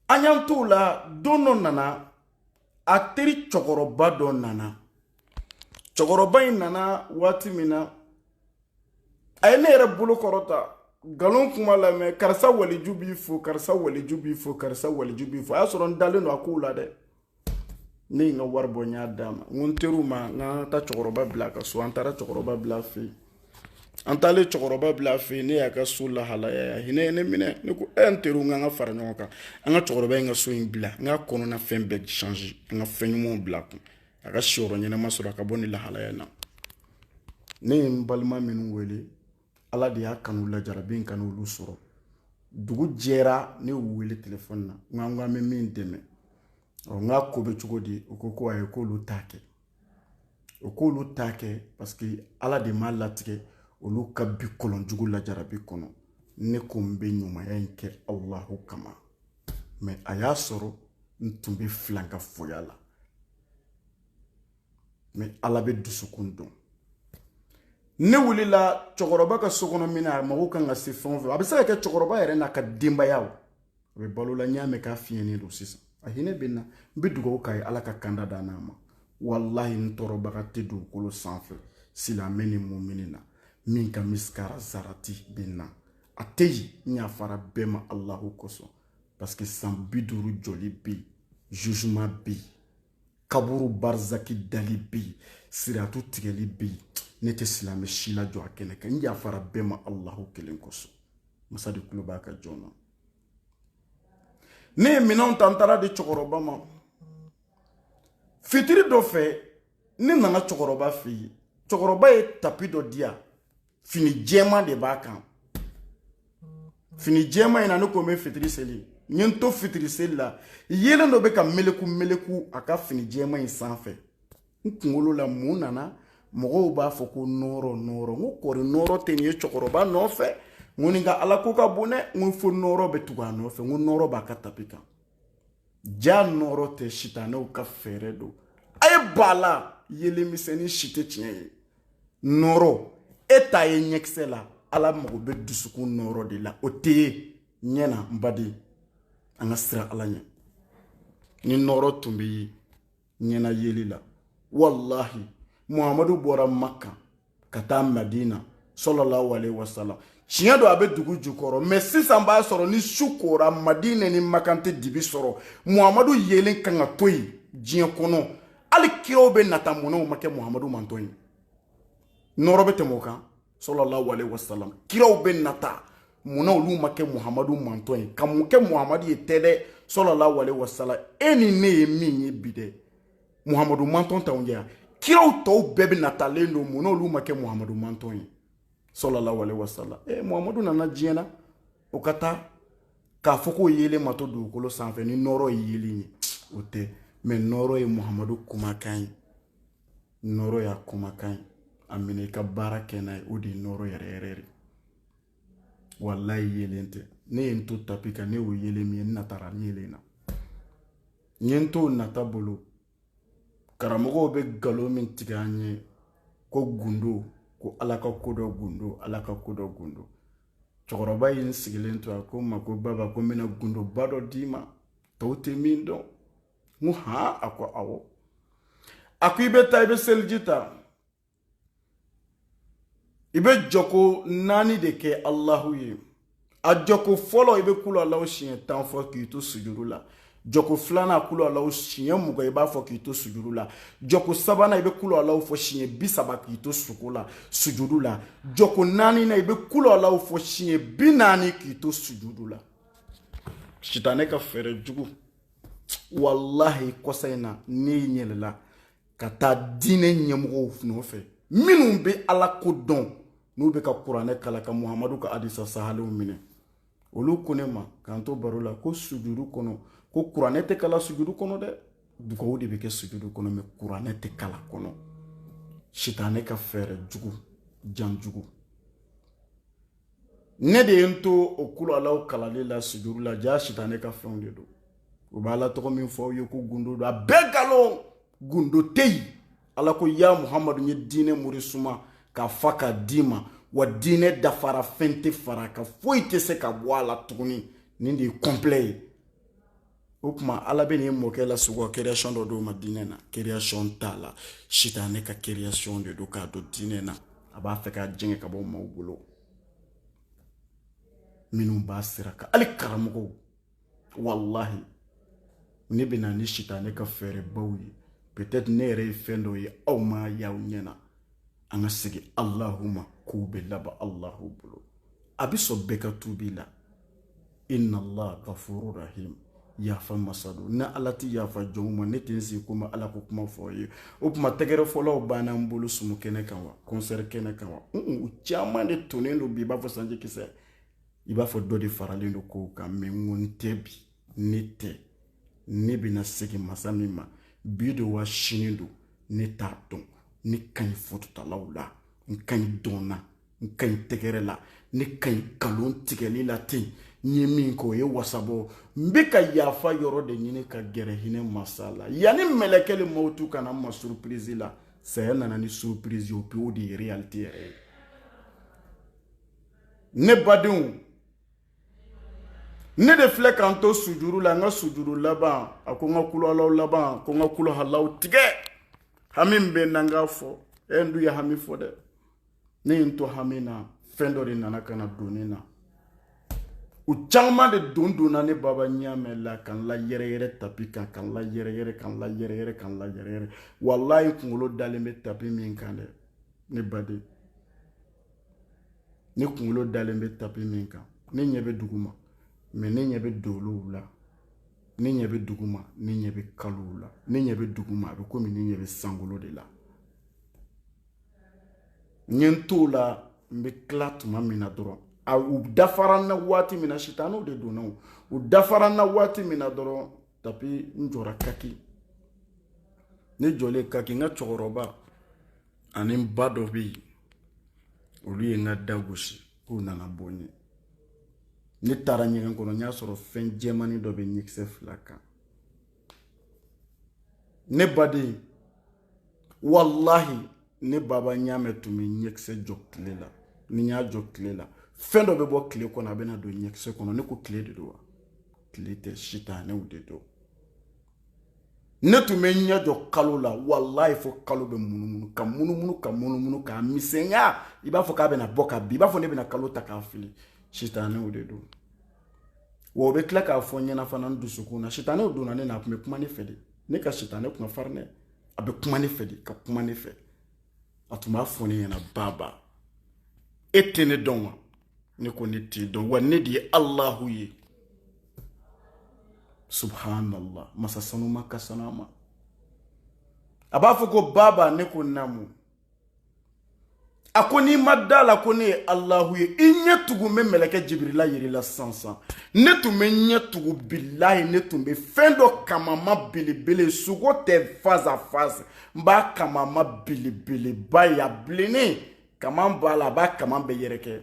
[SPEAKER 1] an y'an t'o la don dɔ nana a teri cɛkɔrɔba dɔ nana cɛkɔrɔba in nana waati min na a ye ne yɛrɛ bolo kɔrɔta nkalon kuma lamɛn karisa waliju b'i fo karisa waliju b'i fo karisa waliju b'i fo a y'a sɔrɔ n dalen don a kow la dɛ ne ye n ka wari bɔ n y'a d'a ma n ko n teriw ma an ka taa cɛkɔrɔba bila a ka so an taara cɛkɔrɔba bila a fɛ yen an taalen cɛkɔrɔba bila a fɛ yen ne y'a ka so lahalaya a hinɛ ye ne minɛ ne ko e n teriw an ka an ka fara ɲɔgɔn kan an ka cɛkɔrɔba in ka so in dilan k'a kɔnɔna fɛn bɛɛ change an ka fɛn ɲumanw bila a kun a ka siyɔrɔ ɲɛnama sɔrɔ a ka bɔ nin lahalaya in na ne ye n balima minnu wele ala de y'a kanu lajarabi in kan'olu sɔrɔ dugu jɛra ne y'u wele telefɔni na n k'an k'an bɛ min dɛmɛ ɔ n k'a ko bɛ cogo di u ko ko ayi k'olu t'a kɛ o k'olu t'a kɛ parce que ala de m'a latigɛ olu ka bin kɔlɔn jugu lajarabi kɔnɔ ne ko n bɛ ɲumanya in kɛ alahu kama mais a y'a sɔrɔ n tun bɛ filankafoya la mais ala bɛ dusukun dɔn ne wulila cɛkɔrɔba ka so kɔnɔ minɛn a mago ka kan ka se fɛn o fɛn a bɛ se ka kɛ cɛkɔrɔba yɛrɛ n'a ka denbaya o a bɛ balo la n y'a mɛn k'a fiɲɛnen don sisan a hinɛ bɛ n na n bɛ dugawu k'a ye ala ka kanda da n'a ma walahi n tɔɔrɔbaga tɛ dugukolo sanfɛ silamɛ ni mumini na min ka misikara zarati bɛ n na a tɛ yen n yafara bɛɛ ma alahu kosɔn parce que san bi duuru jɔli bɛ yen jugement bɛ yen kaburu barizaki dali bɛ yen siratu tigɛli bɛ yen ne tɛ silamɛ si lajɔ a kɛnɛ kan n yafara bɛɛ ma alahu kelen kosɔn masa de tulo b'a ka jɔn na ne ye minɛnw ta n taara di cɛkɔrɔba ma fitiri dɔ fɛ ne nana cɛkɔrɔba fɛ yen cɛkɔrɔba ye tapi dɔ di yan fini jɛman de b'a kan fini jɛman in na ne ko n bɛ fitiri seli n ye n to fitiri seli la yeelen dɔ bɛ ka meleku meleku a ka fini jɛman in sanfɛ n kunkolo la mun nana mɔgɔw b'a fɔ ko nɔɔrɔ nɔɔrɔ n ko kɔri nɔɔrɔ tɛ nin ye cɛkɔrɔba nɔfɛ n ko nin ka alako ka bon dɛ n ko fo nɔɔrɔ bɛ tugu a nɔfɛ n ko nɔɔrɔ b'a ka tapi kan ja nɔɔrɔ tɛ sitanɛw ka fɛɛrɛ don a ye b'a la yeelen misɛnnin si tɛ tiɲɛ ye nɔɔrɔ e t'a ye ɲɛkisɛ la ala mago bɛ dusukun nɔɔrɔ de la o tɛ ye ɲɛ na n baden an ka siran ala ɲɛ ni nɔɔrɔ tun bɛ ye ɲɛna yeli la walahi muhamadu bɔra makan ka taa madina sallallahu alaihi wasallam tiɲɛ don a bɛ dugu jukɔrɔ mais sisan b'a sɔrɔ ni su kora madina ni makan tɛ dibi sɔrɔ muhamadu yeelen kan ka to yen diɲɛ kɔnɔ hali kiraw bɛ nata mun na u ma kɛ muhamadu mantɔn ye nɔɔrɔ bɛ tɛmɛ o kan sallallahu alaihi wasallam kiraw bɛ nata mun na olu ma kɛ muhamadu mantɔn ye ka mun kɛ muhamadu ye tɛ dɛ sallallahu alaihi wasallam e ni ne ye min ye bi dɛ muhamadu mantɔn t'anw jɛ yan kiraw tɔw bɛɛ bɛ natalen don mun na olu ma kɛ muhamadu mantɔn ye sallallahu alaihi wasallam e eh, muhamadu nana diɲɛ na o ka taa k'a fɔ k'o yeelen ma to dugukolo sanfɛ ni nɔɔrɔ ye yeelen ye o tɛ mais nɔɔrɔ ye muhamadu kumakan ye nɔɔrɔ y'a kumakan ye a minɛ i ka baara kɛ n'a ye o de ye nɔɔrɔ yɛrɛ yɛrɛ de walayi yeelen tɛ ne ye n to tapi kan ne y'o yeelen min ye n natara yeelen na n ye n to nata bolo karamɔgɔw bɛ nkalon min tigɛ an ye ko gundo ko ala ka ko dɔ gundo ala ka ko dɔ gundo cɛkɔrɔba ye n sigilen to a ko n ma ko baba ko n bɛna gundoba dɔ d'i ma tɔw tɛ min dɔn n ko han a ko awɔ a ko i bɛ taa i bɛ seliji ta i bɛ jɔko naani de kɛ alahu ye a jɔko fɔlɔ i bɛ kulu alahu siɲɛ tan fɔ k'i to sujuru la jɔko filanan kulu alahu siɲɛ mugan i b'a fɔ k'i to sujuru la jɔko sabanan i bɛ kulu alahu fɔ siɲɛ bi saba k'i to suko la sujuru la jɔko naaninan i bɛ kulu alahu fɔ siɲɛ bi naani k'i to sujuru la sitanɛ ka fɛɛrɛ jugu walahi kɔsa in na ne yɛlɛla ka taa diinɛ ɲɛmɔgɔw nɔfɛ minnu bɛ ala ko dɔn n'u bɛ ka kuranɛ kalan ka muhamadu ka hadisa sahalenw minɛ olu ko ne ma k'an to baro la ko sujudu kɔnɔ ko kuranɛ tɛ kalan sujudu kɔnɔ dɛ dugawu de bɛ kɛ sujudu kɔnɔ mɛ kuranɛ tɛ kalan kɔnɔ sitanɛ ka fɛɛrɛ jugu jan jugu ne de ye n to o kulu alaw kalali la sujudu la jaa sitanɛ ka fɛnw de don u bɛ ala tɔgɔ min fɔ aw ye ko gundo don a bɛɛ nkalon gundo tɛ yen ala ko ya muhamadu n ye diinɛ mure suma k'a fa k'a d'i ma wa diinɛ dafara fɛn tɛ fara a kan foyi tɛ se ka bɔ a la tuguni nin de ye kɔnplɛ ye o tuma ala bɛ nin mɔkɛ la sogo kereyasɔn dɔ d'o ma diinɛ na kereyasɔn t'a la sitanɛ ka kereyasɔn de don k'a don diinɛ na a b'a fɛ k'a jɛngɛ ka bɔ maaw bolo minnu b'a sira kan hali karamɔgɔw walahi ne bɛ na ni sitanɛ ka fɛɛrɛbaw ye peut-être ne yɛrɛ ye fɛn dɔ ye aw m'a y'aw ɲɛ na an ka segin alahu ma kow bɛ laban alahu bolo a bɛ sɔn bɛɛ ka tuubi la inna allah gafuru rahim yafa masa don ni ala tɛ yafa jɔnw ma ne tɛ n sigi komi ala ko kuma fɔ ye o tuma tɛgɛrɛ fɔlaw banna n bolo sumu kɛnɛ kan wa kɔnsɛri kɛnɛ kan wa u caman de tonnen don bi i b'a fɔ sanji kisɛ i b'a fɔ dɔ de faralen don kow kan mɛ n ko n tɛ bi ne tɛ ne bɛna segin masa min ma bi don wa sini don ne t'a dɔn ne ka ɲi fototalaw la n ka ɲi dɔn na n ka ɲi tɛgɛrɛ la ne ka ɲi nkalon tigɛli la ten n ye min kɛ o ye wasa bɔ n bɛ ka yafa yɔrɔ de ɲini ka gɛrɛ hinɛ masa la yanni mɛlɛkɛli mawutu ka na n ma surupirizi la saya nana ni surupirizi o pewu de ye realite yɛrɛ ye ne badenw ne de filɛ ka n to sujudu la n ka sujudu laban a ko n ka kulu alaw laban ko n ka kulu alaw tigɛ hami bɛ n na n k'a fɔ e n dun ye hami fɔ dɛ ne ye n to hami na fɛn dɔ de nana ka na don ne na u caman de don donna ne baba ɲamɛ la ka n la yɛrɛyɛrɛ tapi kan ka n la yɛrɛyɛrɛ ka n la yɛrɛyɛrɛ ka n la yɛrɛyɛrɛ walayi kunkolo dalen bɛ tapi min kan dɛ ne baden ne kunkolo dalen bɛ tapi min kan ne ɲɛ bɛ dugu ma mɛ ne ɲɛ bɛ dolow la ne ɲɛ bɛ dugu ma ne ɲɛ bɛ kalow la ne ɲɛ bɛ dugu ma a bɛ komi ne ɲɛ bɛ sankolo de la n ye n t'o la n bɛ tila tuma min na dɔrɔn a u dafara n na waati min na sitanɛw de donna o u dafara n na waati min na dɔrɔn tapi n jɔra kaki ne jɔlen kaki n ka cɛkɔrɔba ani n ba dɔ bɛ yen olu ye n ka da gosi k'u nana bɔ n ye ne taara ɲɛgɛn kɔnɔ n y'a sɔrɔ fɛn jɛmanin dɔ bɛ ɲɛkisɛ fila kan ne baden walahi ne baba ɲamɛ tun bɛ ɲɛkisɛ jɔ tile la ni n y'a jɔ tile la fɛn dɔ bɛ bɔ tile kɔnɔ a bɛna don ɲɛkisɛ kɔnɔ ne ko tile de don wa tile tɛ sitanɛw de don ne tun bɛ ɲɛ jɔ kalo la walayi fo kalo bɛ munumunu ka munumunu ka munumunu k'a misɛnya i b'a fɔ k'a bɛna bɔ ka bin i b'a fɔ ne bɛna kalo ta k'a fili sitanɛw de don wa o bɛ tila k'a fɔ n ɲɛna fana n dusukun na sitanɛw donna ne na a tun bɛ kuma ne fɛ de ne ka sitanɛ kun ka farin dɛ a bɛ kuma ne fɛ de ka kuma ne fɛ a tun b'a fɔ ne ɲɛna baba e tɛ ne dɔn wa ne ko ne t'i dɔn wa ne de ye alahu ye subhanallah masa sanuman ka sanu a ma a b'a fɔ ko baba ne ko naamu a ko n'i ma da la ko ne ye alahu ye i ɲɛ tugu n bɛ mɛlɛkɛ jibirila yir'i la sansan ne tun bɛ ɲɛ tugu bilayi ne tun bɛ fɛn dɔ kamanma belebele sugo tɛ face à face n b'a kamanma belebeleba ye a bilennen kaman b'a la a b'a kaman bɛɛ yɛrɛkɛ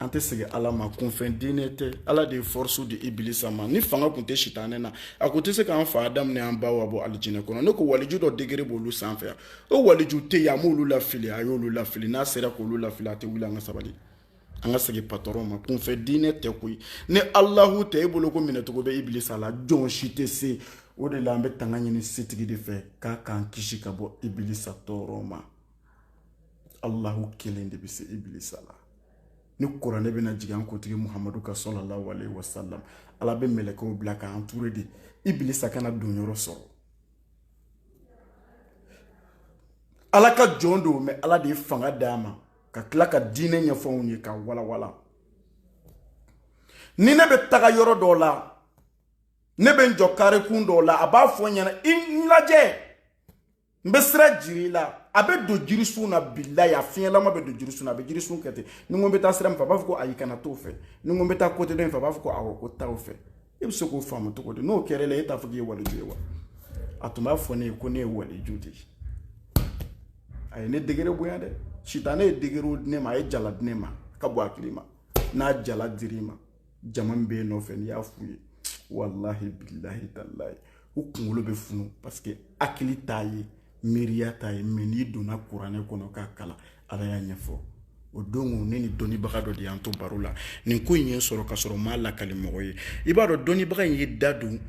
[SPEAKER 1] an tɛ segin ala ma kunfɛ diinɛ tɛ ala de ye fɔrɔsu di ibilisa ma ni fanga tun tɛ sitanɛ na a kun tɛ se k'an fa adamu ni an ba awa bɔ alijinɛ kɔnɔ ne ko waliju dɔ degere b'olu sanfɛ yan o waliju tɛ yen a m'olu lafili a y'olu lafili n'a sera k'olu lafili a tɛ wuli an ka sabali an ka segin patɔrɔn ma kunfɛ diinɛ tɛ koyi ni alahu tɛ e bolo ko minɛcogo bɛ ibilisa la jɔn si tɛ se o de la an bɛ tanga ɲini setigi de fɛ k'a k'an kisi ka bɔ ibilisa tɔɔrɔ ma alahu kelen de bɛ se ibilisa la ni kuranɛ bɛna jigin an kuntigi muhamadu kan salalahu alayhi wasalam ala bɛ mɛlɛkɛw bila k'a anture de ibilisa kana donyɔrɔ sɔrɔ ala ka jɔn don mɛ ala de ye fanga d'a ma ka tila ka diinɛ ɲɛfɔ u ye k'a walawala ni ne bɛ taga yɔrɔ dɔw la ne bɛ n jɔ karekun dɔw la a b'a fɔ n ɲɛna i lajɛ n bɛ sira jir'i la a bɛ don jirisun na bilayi a fiɲɛlama bɛ don jirisun na a bɛ jirisun kɛ ten ni ko n bɛ taa sira min fɛ a b'a fɔ ko ayi kana t'o fɛ ni ko n bɛ taa kote dɔ in fɛ a b'a fɔ ko awɔ ko taa o fɛ e bɛ se k'o faamu cogo di n'o kɛra e la e t'a fɔ k'i ye waliju ye wa a tun b'a fɔ ne ye ko ne ye waliju de ye a ye ne degere bonya dɛ sitanɛ ye degere di ne ma a ye jala di ne ma ka bɔ a hakili ma n'a jala dir'i ma jama min bɛ yen nɔfɛ n'i y'a f'u ye walahi bilahi talahi u kunkolo bɛ funu paseke hakili t'a ye miiriya t'a ye mɛ n'i donna kuranɛ kɔnɔ k'a kalan ala y'a ɲɛfɔ o don ne ni dɔnnibaga dɔ de y'an to baro la nin ko in ye n sɔrɔ ka sɔrɔ n m'a lakali mɔgɔ ye i b'a dɔn dɔnnibaga in ye da don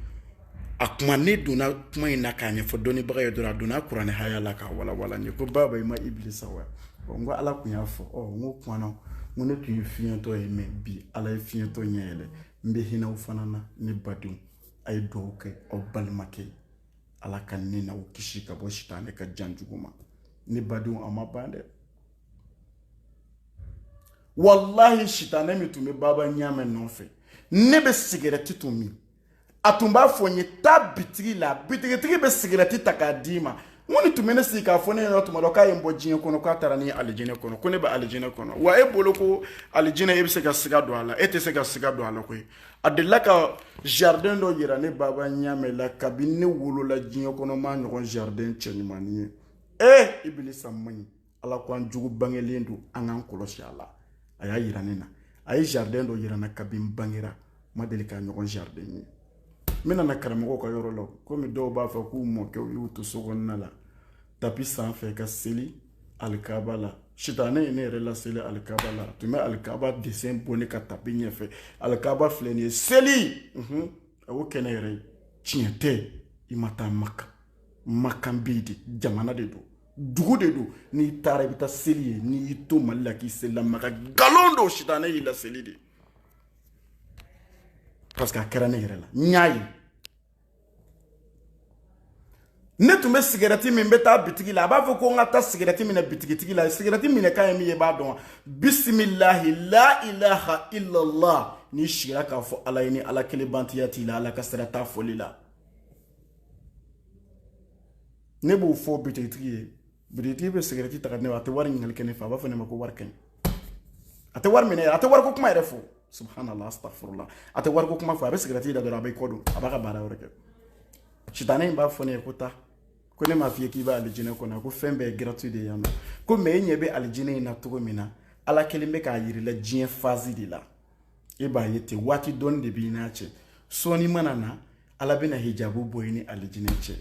[SPEAKER 1] a kuma ne donna kuma in na k'a ɲɛfɔ dɔnnibaga ye dɔrɔn a donna kuranɛ haya la k'a walawala n ye ko baba i ma ibilisa wa n ko ala tun y'a fɔ ɔ n ko kumana n ko ne tun ye fiɲɛtɔ ye mɛ bi ala ye fiɲɛtɔ ɲɛ yɛlɛ n bɛ hinɛ aw fana na ne badenw a ye dugawu kɛ aw balimakɛ ye ala ka ne n'aw kisi ka bɔ sitanɛ ka jan jugu ma ne badenw a ma ban dɛ walahi sitanɛ min tun bɛ baba ɲamɛ nɔfɛ ne bɛ sigɛrɛti tun min a tun b'a fɔ n ye taa bitigi la bitigitigi bɛ sigirɛti ta k'a d'i ma n ko nin tun bɛ ne sigi k'a fɔ ne ɲɛna tuma dɔ k'a ye n bɔ diɲɛ kɔnɔ k'a taara ni alijinɛ kɔnɔ ko ne bɛ alijinɛ kɔnɔ wa e bolo ko alijinɛ e bɛ se ka siga don a la e tɛ se ka siga don a la koyi a delila ka jardin dɔ yira ne baba ɲamɛ la kabini ne wolola diɲɛ kɔnɔ n m'a ɲɔgɔn jardin cɛɲumannin ye ee ibilisa man ɲi ala ko an jugu bangelen don an k'an kɔlɔsi a la a y'a yira ne na a ye jardin dɔ yira n na kabini n bangera n ma deli k'a ɲɔgɔn jardin ye n bɛna na karamɔgɔw ka yɔrɔ la komi dɔw b'a fɔ k'u mɔkɛw y'u to so kɔnɔna la tapi sanfɛ ka seli alikaba la sitanɛ ye ne yɛrɛ laseli alikaba la a tun bɛ alikaba dessin bɔ ne ka tapi ɲɛfɛ alikaba filɛ nin ye seli a y'o kɛ ne yɛrɛ ye tiɲɛ tɛ i ma taa maka makan bɛ yen de jamana de don dugu de don n'i taara i bɛ taa seli yen n'i y'i to mali la k'i selila maka nkalon don sitanɛ y'i laseli de parce que a kɛra ne yɛrɛ la n y'a ye ne tun bɛ sigɛrɛti min n bɛ taa bitigi la a b'a fɔ ko n ka taa sigɛrɛti minɛ bitigitigi la sigɛrɛti minɛ kan ye min ye i b'a dɔn wa bisimilahi la ilaha illallah n'i sigira k'a fɔ ala ye ni ala kelen batoya t'i la ala ka sira t'a fɔli la ne b'o fɔ bitigitigi ye bitigitigi bɛ sigɛrɛti ta k'a di ne ma a tɛ wari ɲininkali kɛ ne fɛ a b'a fɔ ne ma ko wari ka ɲi a tɛ wari minɛ a tɛ wariko kuma yɛrɛ fɔ subhanallah astafurula a tɛ wariko kuma fɔ a bɛ sigɛrɛti da dɔrɔn a b'a kɔ don a b'a ka baara wɛrɛ kɛ sitanɛ in b'a fɔ ne ye ko taa ko ne m'a f'i ye k'i bɛ alijinɛ kɔnɔ ko fɛn bɛɛ ye gratuit de ye yan nɔ ko mɛ e ɲɛ bɛ alijinɛ in na cogo min na ala kɛlen bɛ k'a yir'i la diɲɛ fazi de la e b'a ye ten waati dɔɔni de b'i n'a cɛ sɔɔni mana na ala bɛna hijabu bɔ i ni alijinɛ cɛ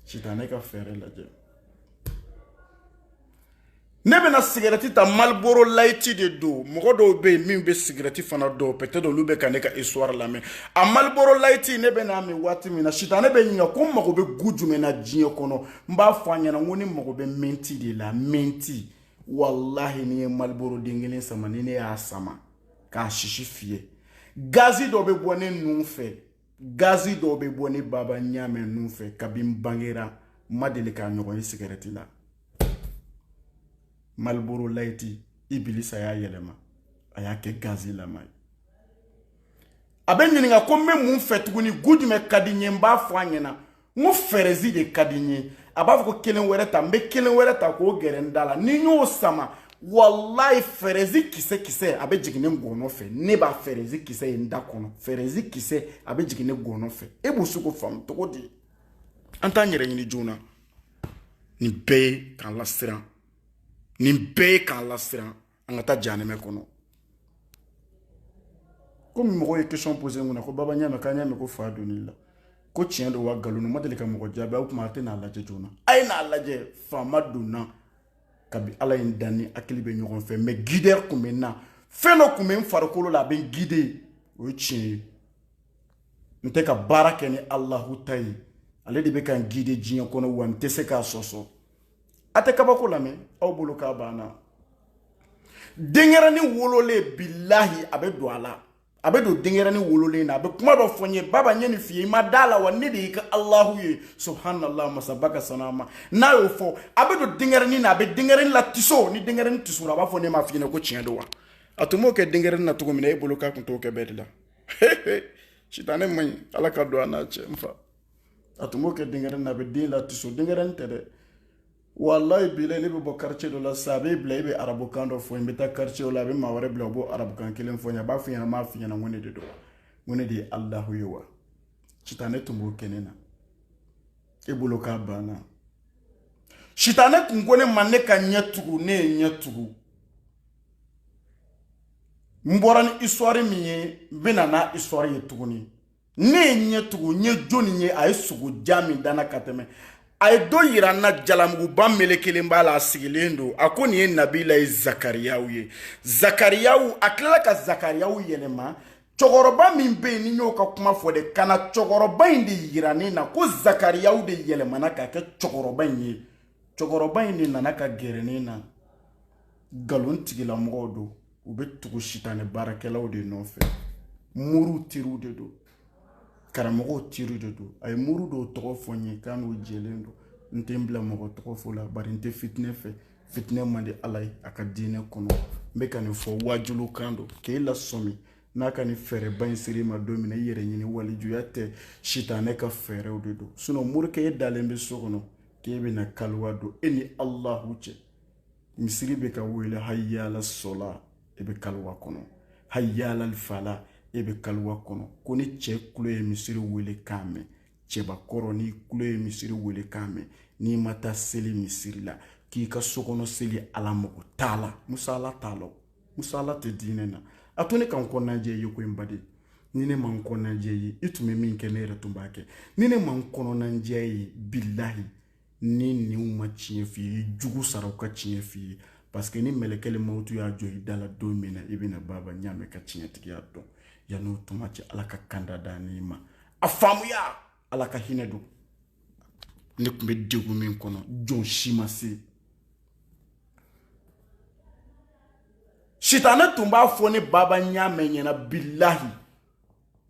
[SPEAKER 1] sitanɛ ka fɛɛrɛ lajɛ ne bɛna sigɛrɛti ta maliboro layiti de don mɔgɔ dɔw bɛ yen min bɛ sigɛrɛti fana dɔn peut-être olu bɛ ka ne ka histoire lamɛn a maliboro layiti ne bɛn'a min waati min na sitanɛ bɛ n ɲininka ko n mago bɛ gu jumɛn na diɲɛ kɔnɔ n b'a fɔ a ɲɛna n ko ne mago bɛ mɛnti de la mɛnti walahi ni n ye maliboro den kelen sama ni ne y'a sama k'a sisi fiyɛ gazi dɔ bɛ bɔ ne nun fɛ gazi dɔ bɛ bɔ ne baba ɲaamɛ nun fɛ kabi n bangera n ma deli k'a ɲɔgɔn ye sigɛrɛti la maliboro layiti ibilisa y'a yɛlɛma a y'a kɛ gazi lama ye a bɛ n ɲininka ko n bɛ mun fɛ tuguni gu jumɛn ka di n ye n b'a fɔ a ɲɛna n ko fɛrɛzi de ka di n ye a b'a fɔ ko kelen wɛrɛ ta n bɛ kelen wɛrɛ ta k'o gɛrɛ n da la ni n y'o sama walayi fɛrɛzi kisɛ kisɛ a bɛ jigin ne gɔnɔ fɛ ne b'a fɛrɛzi kisɛ ye n da kɔnɔ fɛrɛzi kisɛ a bɛ jigin ne gɔnɔ fɛ e bɛ se k'o faamu cogo di an t'an yɛrɛ ɲini joona nin bɛɛ ye k'an lasiran nin bɛɛ ye k'an lasiran an ka taa janɛmɛ kɔnɔ komi mɔgɔw ye question posé n kunna ko baba ɲaamɛ k'an y'a mɛn ko fa donn'i la ko tiɲɛ don wa nkalon n ma deli ka mɔgɔ jaabi aw kuma a tɛ n'a lajɛ joona a ye n'a lajɛ fa ma don n na kabi ala ye n dan ni hakili bɛ ɲɔgɔn fɛ mɛ gidɛri tun bɛ n na fɛn dɔ tun bɛ n farikolo la a bɛ n gide o ye tiɲɛ ye n tɛ ka baara kɛ ni alahu ta ye ale de bɛ ka n gide diɲɛ kɔnɔ wa n tɛ se k'a sɔsɔ a tɛ kabako lamɛn aw bolo k'a banna denyɛrɛni wololen bilahi a bɛ don a la a bɛ don denyɛrɛni wololen na a bɛ kuma dɔ fɔ n ye baba n ye nin f'i ye i ma da a la wa ne de y'i ka alahu ye subhanallah masaba ka sanu a ma n'a y'o fɔ a bɛ don denyɛrɛni na a bɛ denyɛrɛni latiso ni denyɛrɛni tisora a b'a fɔ ne m'a f'i ɲɛna ko tiɲɛ don wa a tun b'o kɛ denyɛrɛni na cogo min na e bolo k'a tun t'o kɛ bɛɛ de la sitanɛ man ɲi ala ka don an n'a cɛ n fa a tun b'o kɛ denkɛrɛn na a bɛ den latiso denkɛrɛn tɛ dɛ walayi bilahi ne bɛ bɔ quartier dɔ la sisan a bɛ bila e bɛ arabukan dɔ fɔ n bɛ taa quartier la a bɛ maa wɛrɛ bila o b'o arabukan kelen fɔ n ye a b'a fɔ n ɲɛna n m'a f'i ɲɛna n ko ne de don wa n ko ne de ye alahu ye wa sitanɛ tun b'o kɛ ne na e bolo k'a banna sitanɛ tun ko ne ma ne ka ɲɛ tugu ne ye ɲɛ tugu n bɔra ni histoire min ye n bɛna n'a histoire ye tuguni ne ye ɲɛ tugu n ye jɔni ye a ye sogo ja min danna ka tɛmɛ a ye dɔ yira n na jalamuguba melekelen b'a la a sigilen don a ko nin ye nabila ye zakariyaw ye zakariyaw a tilala ka zakariyaw yɛlɛma cɛkɔrɔba min bɛ yen ni n y'o ka kuma fɔ de ka na cɛkɔrɔba in de yira ne na ko zakariyaw de yɛlɛmana ka kɛ cɛkɔrɔba in ye cɛkɔrɔba in de nana ka gɛrɛ ne na nkalon tigilamɔgɔw don u bɛ tugu sitanɛ baarakɛlaw de nɔfɛ moriw teriw de don karamɔgɔw teriw de don a ye moriw dɔw tɔgɔ fɔ n ye k'a n'u jɛlen don n tɛ n bila mɔgɔ tɔgɔ fɔ la bari n tɛ fitinɛ fɛ fitinɛ man di ala ye a ka diinɛ kɔnɔ n bɛ ka nin fɔ waajulo kan don k'e lasɔmi n'a ka nin fɛɛrɛba in siri i ma don min na i yɛrɛ ɲini walijuya tɛ sitanɛ ka fɛɛrɛw de don sinɔn morikɛ e dalen bɛ so kɔnɔ k'e bɛna kaliwa don e ni alahu cɛ misiri bɛ ka wele hayala sɔla e bɛ kaliwa kɔnɔ hayala fala e bɛ kaliwa kɔnɔ ko ni cɛ kulo ye misiri welekan mɛn cɛbakɔrɔ n'i kulo ye misiri welekan mɛn n'i ma taa seli misiri la k'i ka sokɔnɔ seli ala mago t'a la musala t'a la musala tɛ diinɛ na a to ne ka n kɔnɔna jɛ i ye ko n baden ni ne ma n kɔnɔna jɛ i ye i tun bɛ min kɛ ne yɛrɛ tun b'a kɛ ni ne ma n kɔnɔna jɛ i ye bilahi n'i ninw ma tiɲɛ f'i ye i jugu sara u ka tiɲɛ f'i ye paseke ni mɛlɛkɛli mawutu y'a jɔ i da la don min na i bɛna baba ɲaamɛ ka tiɲɛtigiya dɔn yanni o tuma cɛ ala ka kanda da n'i ma a faamuya ala ka hinɛ don ne tun bɛ degun min kɔnɔ jɔn si ma se sitanɛ tun b'a fɔ ne baba ɲaamɛ ɲɛna bilahi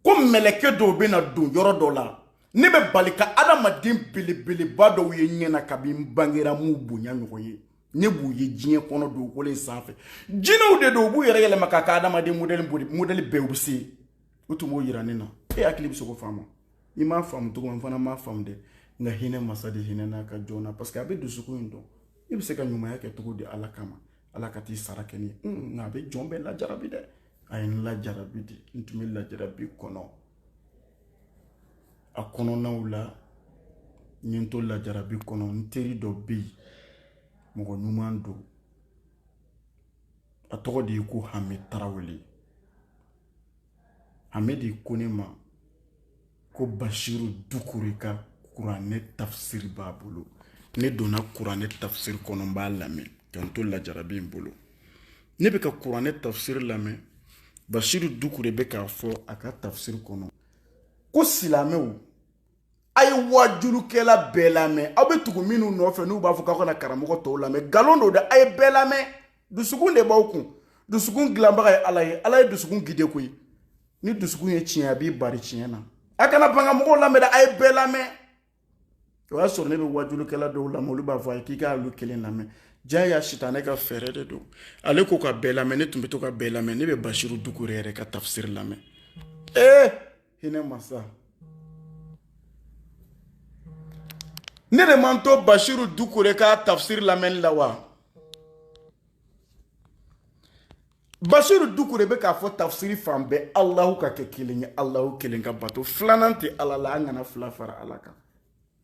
[SPEAKER 1] ko mɛlɛkɛ dɔw bɛna don yɔrɔ dɔ la ne bɛ bali ka adamaden belebeleba dɔw ye ɲɛna kabi n bangera n m'u bonya ɲɔgɔn ye ne b'u ye diɲɛ kɔnɔ dugukolo in sanfɛ jinɛw de don u b'u yɛrɛ yɛlɛma k'a kɛ adamaden modɛli bɛɛ u bɛ se u tun b'o yira ne na e hakili bɛ se k'o faamu i m'a faamu cogo min n fana m'a faamu dɛ nka hinɛ masa de hinɛna a ka jɔn na parce que a bɛ dusukun in dɔn i bɛ se ka ɲumanya kɛ cogo di ala kama ala ka t'i sara kɛ ni ye nka a bɛ jɔn bɛɛ lajarabi dɛ a ye n lajarabi de n tun bɛ lajarabi kɔnɔ a kɔnɔnaw la n ye n to lajarabi kɔnɔ n teri dɔ bɛ yen mɔgɔ ɲuman don a tɔgɔ de ye ko hami tarawele hami de ko ne ma ko basiru dukure ka kuranɛ tafsiri b'a bolo ne donna kuranɛ tafsiri kɔnɔ n b'a lamɛn ka n to lajarabi in bolo ne bɛ ka kuranɛ tafsiri lamɛn basiru dukure bɛ k'a fɔ a ka tafsiri kɔnɔ ko silamɛw a ye waajulukɛla bɛɛ lamɛn aw bɛ tugu minnu nɔfɛ n'u b'a fɔ k'aw kana karamɔgɔ tɔw lamɛn nkalon don dɛ a ye bɛɛ lamɛn dusukun de b'aw kun dusukun dilanbaga ye ala ye ala ye dusukun gide koyi ni dusukun ye tiɲɛ a b'i bari tiɲɛ na a kana ban ka mɔgɔw lamɛn a ye bɛɛ lamɛn o y'a sɔrɔ ne bɛ wajulukɛla dɔw lamɛn olu b'a fɔ a ye k'i k'olu kelen lamɛn jaa y'a sitanɛ ka fɛɛrɛ de don ale ko ka bɛɛ lamɛn ne tun bɛ to ka bɛɛ lamɛn ne bɛ basiru dukure yɛrɛ ka tafsiri lamɛn ee hinɛ masa ne de man to basiru dukure ka tafsiri lamɛnni la wa basiru dukure bɛ k'a fɔ tafsiri fan bɛɛ alahu ka kɛ kelen ye alahu kelen ka bato filanan tɛ ala la an kana fila fara ala kan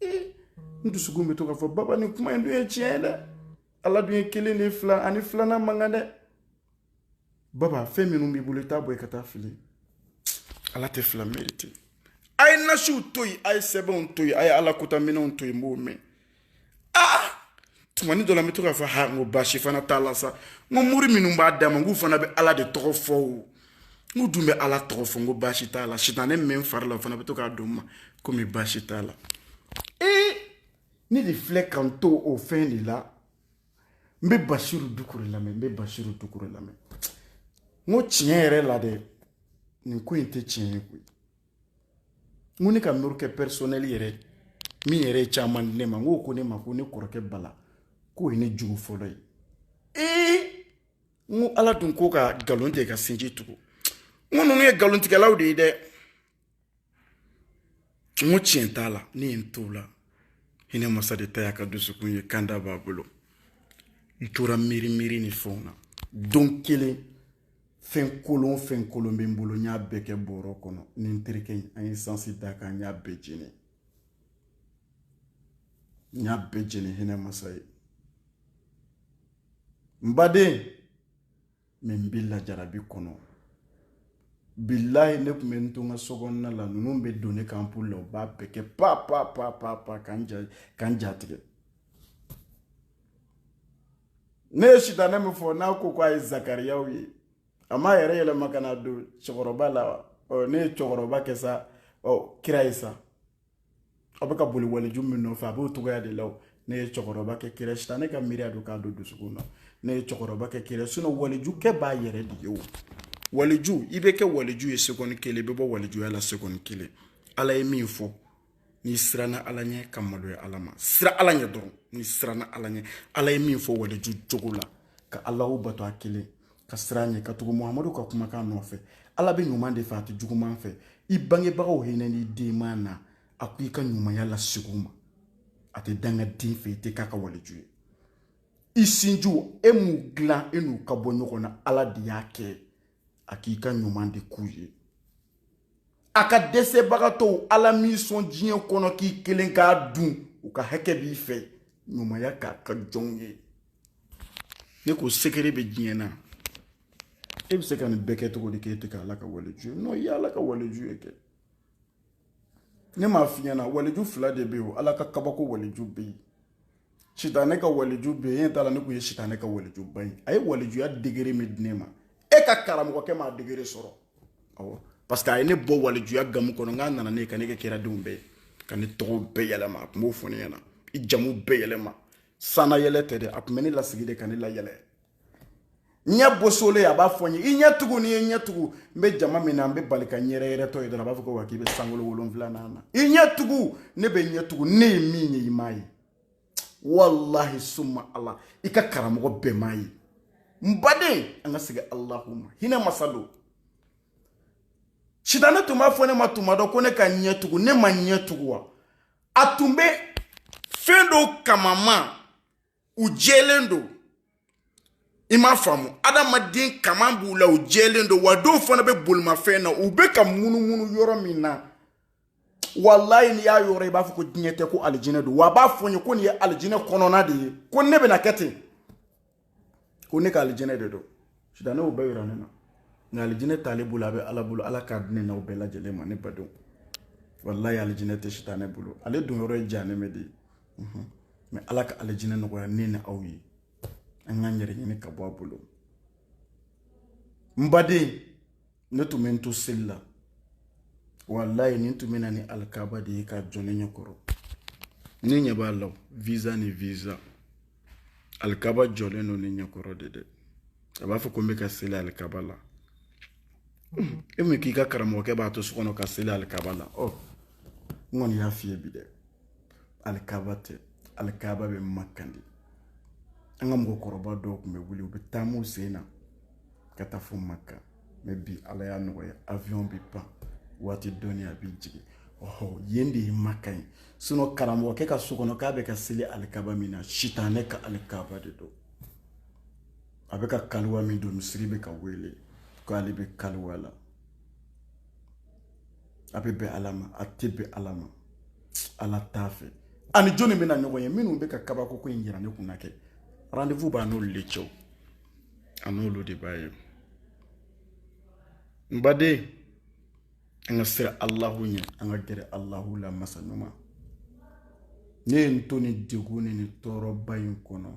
[SPEAKER 1] ee n dusukun bɛ to k'a fɔ baba ni kuma in dun ye tiɲɛ ye dɛ ala dun ye kelen de fila ani filanan man kan dɛ baba fɛn minnu b'i bolo i t'a bɔ i ka taa fili ala tɛ fila merite a ye nasiw to yen a ye sɛbɛnw to yen a ye ala kotaminɛnw to yen n b'o mɛn aa tumani dɔ la n bɛ to k'a fɔ ha n ko baasi fana t'a la sa n ko mori minnu b'a d'a ma n k'u fana bɛ ala de tɔgɔ fɔ o n k'u dun bɛ ala tɔgɔ fɔ n ko baasi t'a la sitanɛ min bɛ n fari la o fana bɛ to k'a don n ma komi baasi t'a la ee ne de filɛ ka n to o fɛn de la n bɛ basiru dukure lamɛn n bɛ basiru dukure lamɛn n ko tiɲɛ yɛrɛ la dɛ nin ko in tɛ tiɲɛ ye koyi n ko ne ka morikɛ personnel yɛrɛ min yɛrɛ ye caman di ne ma n k'o ko ne ma ko ne kɔrɔkɛ bala k'o ye ne jugu fɔlɔ ye ee n ko ala dun ko ka nkalon tigɛ ka sinji tugu n ko ninnu ye nkalontigɛlaw de ye dɛ n ko tiɲɛ t'a la ne ye n t'o la hinɛ masa de ta y'a ka dusukun ye kanda b'a bolo n tora miiri miiri ni fɛnw na don kelen fɛn kolon fɛn kolon bɛ n bolo n y'a bɛɛ kɛ bɔrɔ kɔnɔ ni n terikɛ in an ye sansi d'a kan n y'a bɛɛ jeni n y'a bɛɛ jeni hinɛ masa ye n baden mɛ n bɛ lajarabi kɔnɔ bilayi ne tun bɛ n to n ka so kɔnɔna la ninnu bɛ don ne kan poli la u b'a bɛɛ kɛ pa pa pa pa pa k'an ja k'an ja tigɛ ne ye sitanɛ min fɔ n'a ko ko a ye zakariyaw ye a m'a yɛrɛ yɛlɛma ka na don cɛkɔrɔba la wa ɔ ne ye cɛkɔrɔba kɛ sa ɔ kira ye sa aw bɛ ka boli waliju min nɔfɛ a b'o cogoya de la o ne ye cɛkɔrɔba kɛ kira sitanɛ ka miiriya don k'a don dusukun na ne ye cɛkɔrɔba kɛ kira sinon waliju kɛ b'a yɛrɛ de ye o waliju i bɛ kɛ waliju ye sekɔni kelen i bɛ bɔ walijuya la sekɔni kelen ala ye min fɔ n'i siranna ala ɲɛ ka maloya ala ma siran ala ɲɛ dɔrɔn n'i siranna ala ɲɛ ala ye min fɔ waleju jogo la ka alahu bato a kelen ka siran ɲɛ ka tugu muhamadu ka kumakan nɔfɛ ala bɛ ɲuman de fɛ a tɛ juguman fɛ i bangebagaw hinɛn'i denman na a ko i ka ɲumanya lasegin u ma a tɛ dangaden fɛ i tɛ k'a ka waleju ye i sinjiw e m'u dilan e n'u ka bɔ ɲɔgɔn na ala de y'a kɛ a k'i ka ɲuman de k'u ye a ka dɛsɛbagatɔw ala m'i sɔn diɲɛ kɔnɔ k'i kelen k'a dun u ka hakɛ b'i fɛ ɲumanya k'a ka jɔnw ye ne ko sekere bɛ diɲɛ na e bɛ se ka nin bɛɛ kɛ cogo di k'e tɛ kɛ ala ka waleju ye non i ye ala ka waleju ye kɛ ne m'a f'i ɲɛna waleju fila de bɛ yen o ala ka kabako waleju bɛ yen sitanɛ ka waliju bɛ yen e t'a la ne kun ye sitanɛ ka walijuba ye a ye walijuya degré min di ne ma e ka karamɔgɔkɛ m'a degré sɔrɔ awɔ parce que a ye ne bɔ walijuya gamu kɔnɔ k'a nana ne ye ka ne kɛ kiradenw bɛɛ ye ka ne tɔgɔw bɛɛ yɛlɛma a tun b'o fɔ ne ɲɛna i jamu bɛɛ yɛlɛma sannayɛlɛ tɛ dɛ a tun bɛ ne lasigi de ka ne layɛlɛ ɲɛ bosolen a b'a fɔ n ye i ɲɛ tugu n'i ye ɲɛ tugu n bɛ jama min na n bɛ bali ka n yɛrɛ yɛlɛtɔ ye dɔrɔn a b'a fɔ ko wa k'i bɛ sankolo wolonfilanan na i ɲɛ tugu ne bɛ ɲɛ tugu ne ye min ye i m'a ye walahi summa ala i ka karamɔgɔ bɛɛ m'a ye n baden an ka segin alahu ma hinɛ masa don sitanɛ tun b'a fɔ ne ma tuma dɔ ko ne ka ɲɛ tugu ne ma ɲɛ tugu wa a tun bɛ fɛn dɔw kamanma u jɛlen don i m'a faamu adamaden kaman b'u la u jɛlen don wa dɔw fana bɛ bolimafɛn na u bɛ ka munumunu yɔrɔ min na walayi n'i y'a yɔrɔ i b'a fɔ ko diɲɛ tɛ ko alijinɛ don wa a b'a fɔ n ye ko nin ye alijinɛ kɔnɔna de ye ko ne bɛna kɛ ten ko ne ka alijinɛ de don sitanɛ y'o bɛɛ yira ne na nka alijinɛ t'ale bolo a bɛ ala bolo ala k'a di ne n'aw bɛɛ lajɛlen ma ne badenw walayi alijinɛ tɛ sitanɛ bolo ale donyɔrɔ ye jahanama de ye mais ala ka alijinɛ nɔgɔya ne ni aw ye an k'an yɛrɛ ɲini ka bɔ a bolo n baden ne tun bɛ n to seli la walayi nin tun bɛ na ni alikaba de ye ka jɔ ne ɲɛ kɔrɔ ne ɲɛ b'a la visa ni visa alikaba jɔlen don ne ɲɛ kɔrɔ de dɛ a b'a fɔ ko n bɛ ka seli alikaba la e min k'i ka karamɔgɔkɛ b'a to so kɔnɔ ka seli alikaba la ɔ n kɔni y'a f'i ye bi dɛ alikaba tɛ alikaba bɛ makan de an ka mɔgɔkɔrɔba dɔw tun bɛ wuli u bɛ taam'u sen na ka taa fo makan mais bi ala y'a nɔgɔya avion bɛ pan waati dɔɔni a bɛ jigin ɔhɔ yen de ye makan ye sinon karamɔgɔkɛ ka so kɔnɔ k'a bɛ ka seli alikaba min na sitanɛ ka alikaba de don a bɛ ka kaliwa min don misiri bɛ ka wele k'ale bɛ kaliwa la a bɛ bɛn ala ma a tɛ bɛn ala ma ala t'a fɛ a ni jɔnni bɛna ɲɔgɔn ye minnu bɛ ka kabako ko in yira ne kunna kɛ rendez-vous b'a n'olu de cɛ a n'olu de b'a ye n baden an ka siran alahu ɲɛ an ka gɛrɛ alahu la masa ɲuman ne ye n to nin degun ni nin tɔɔrɔba in kɔnɔ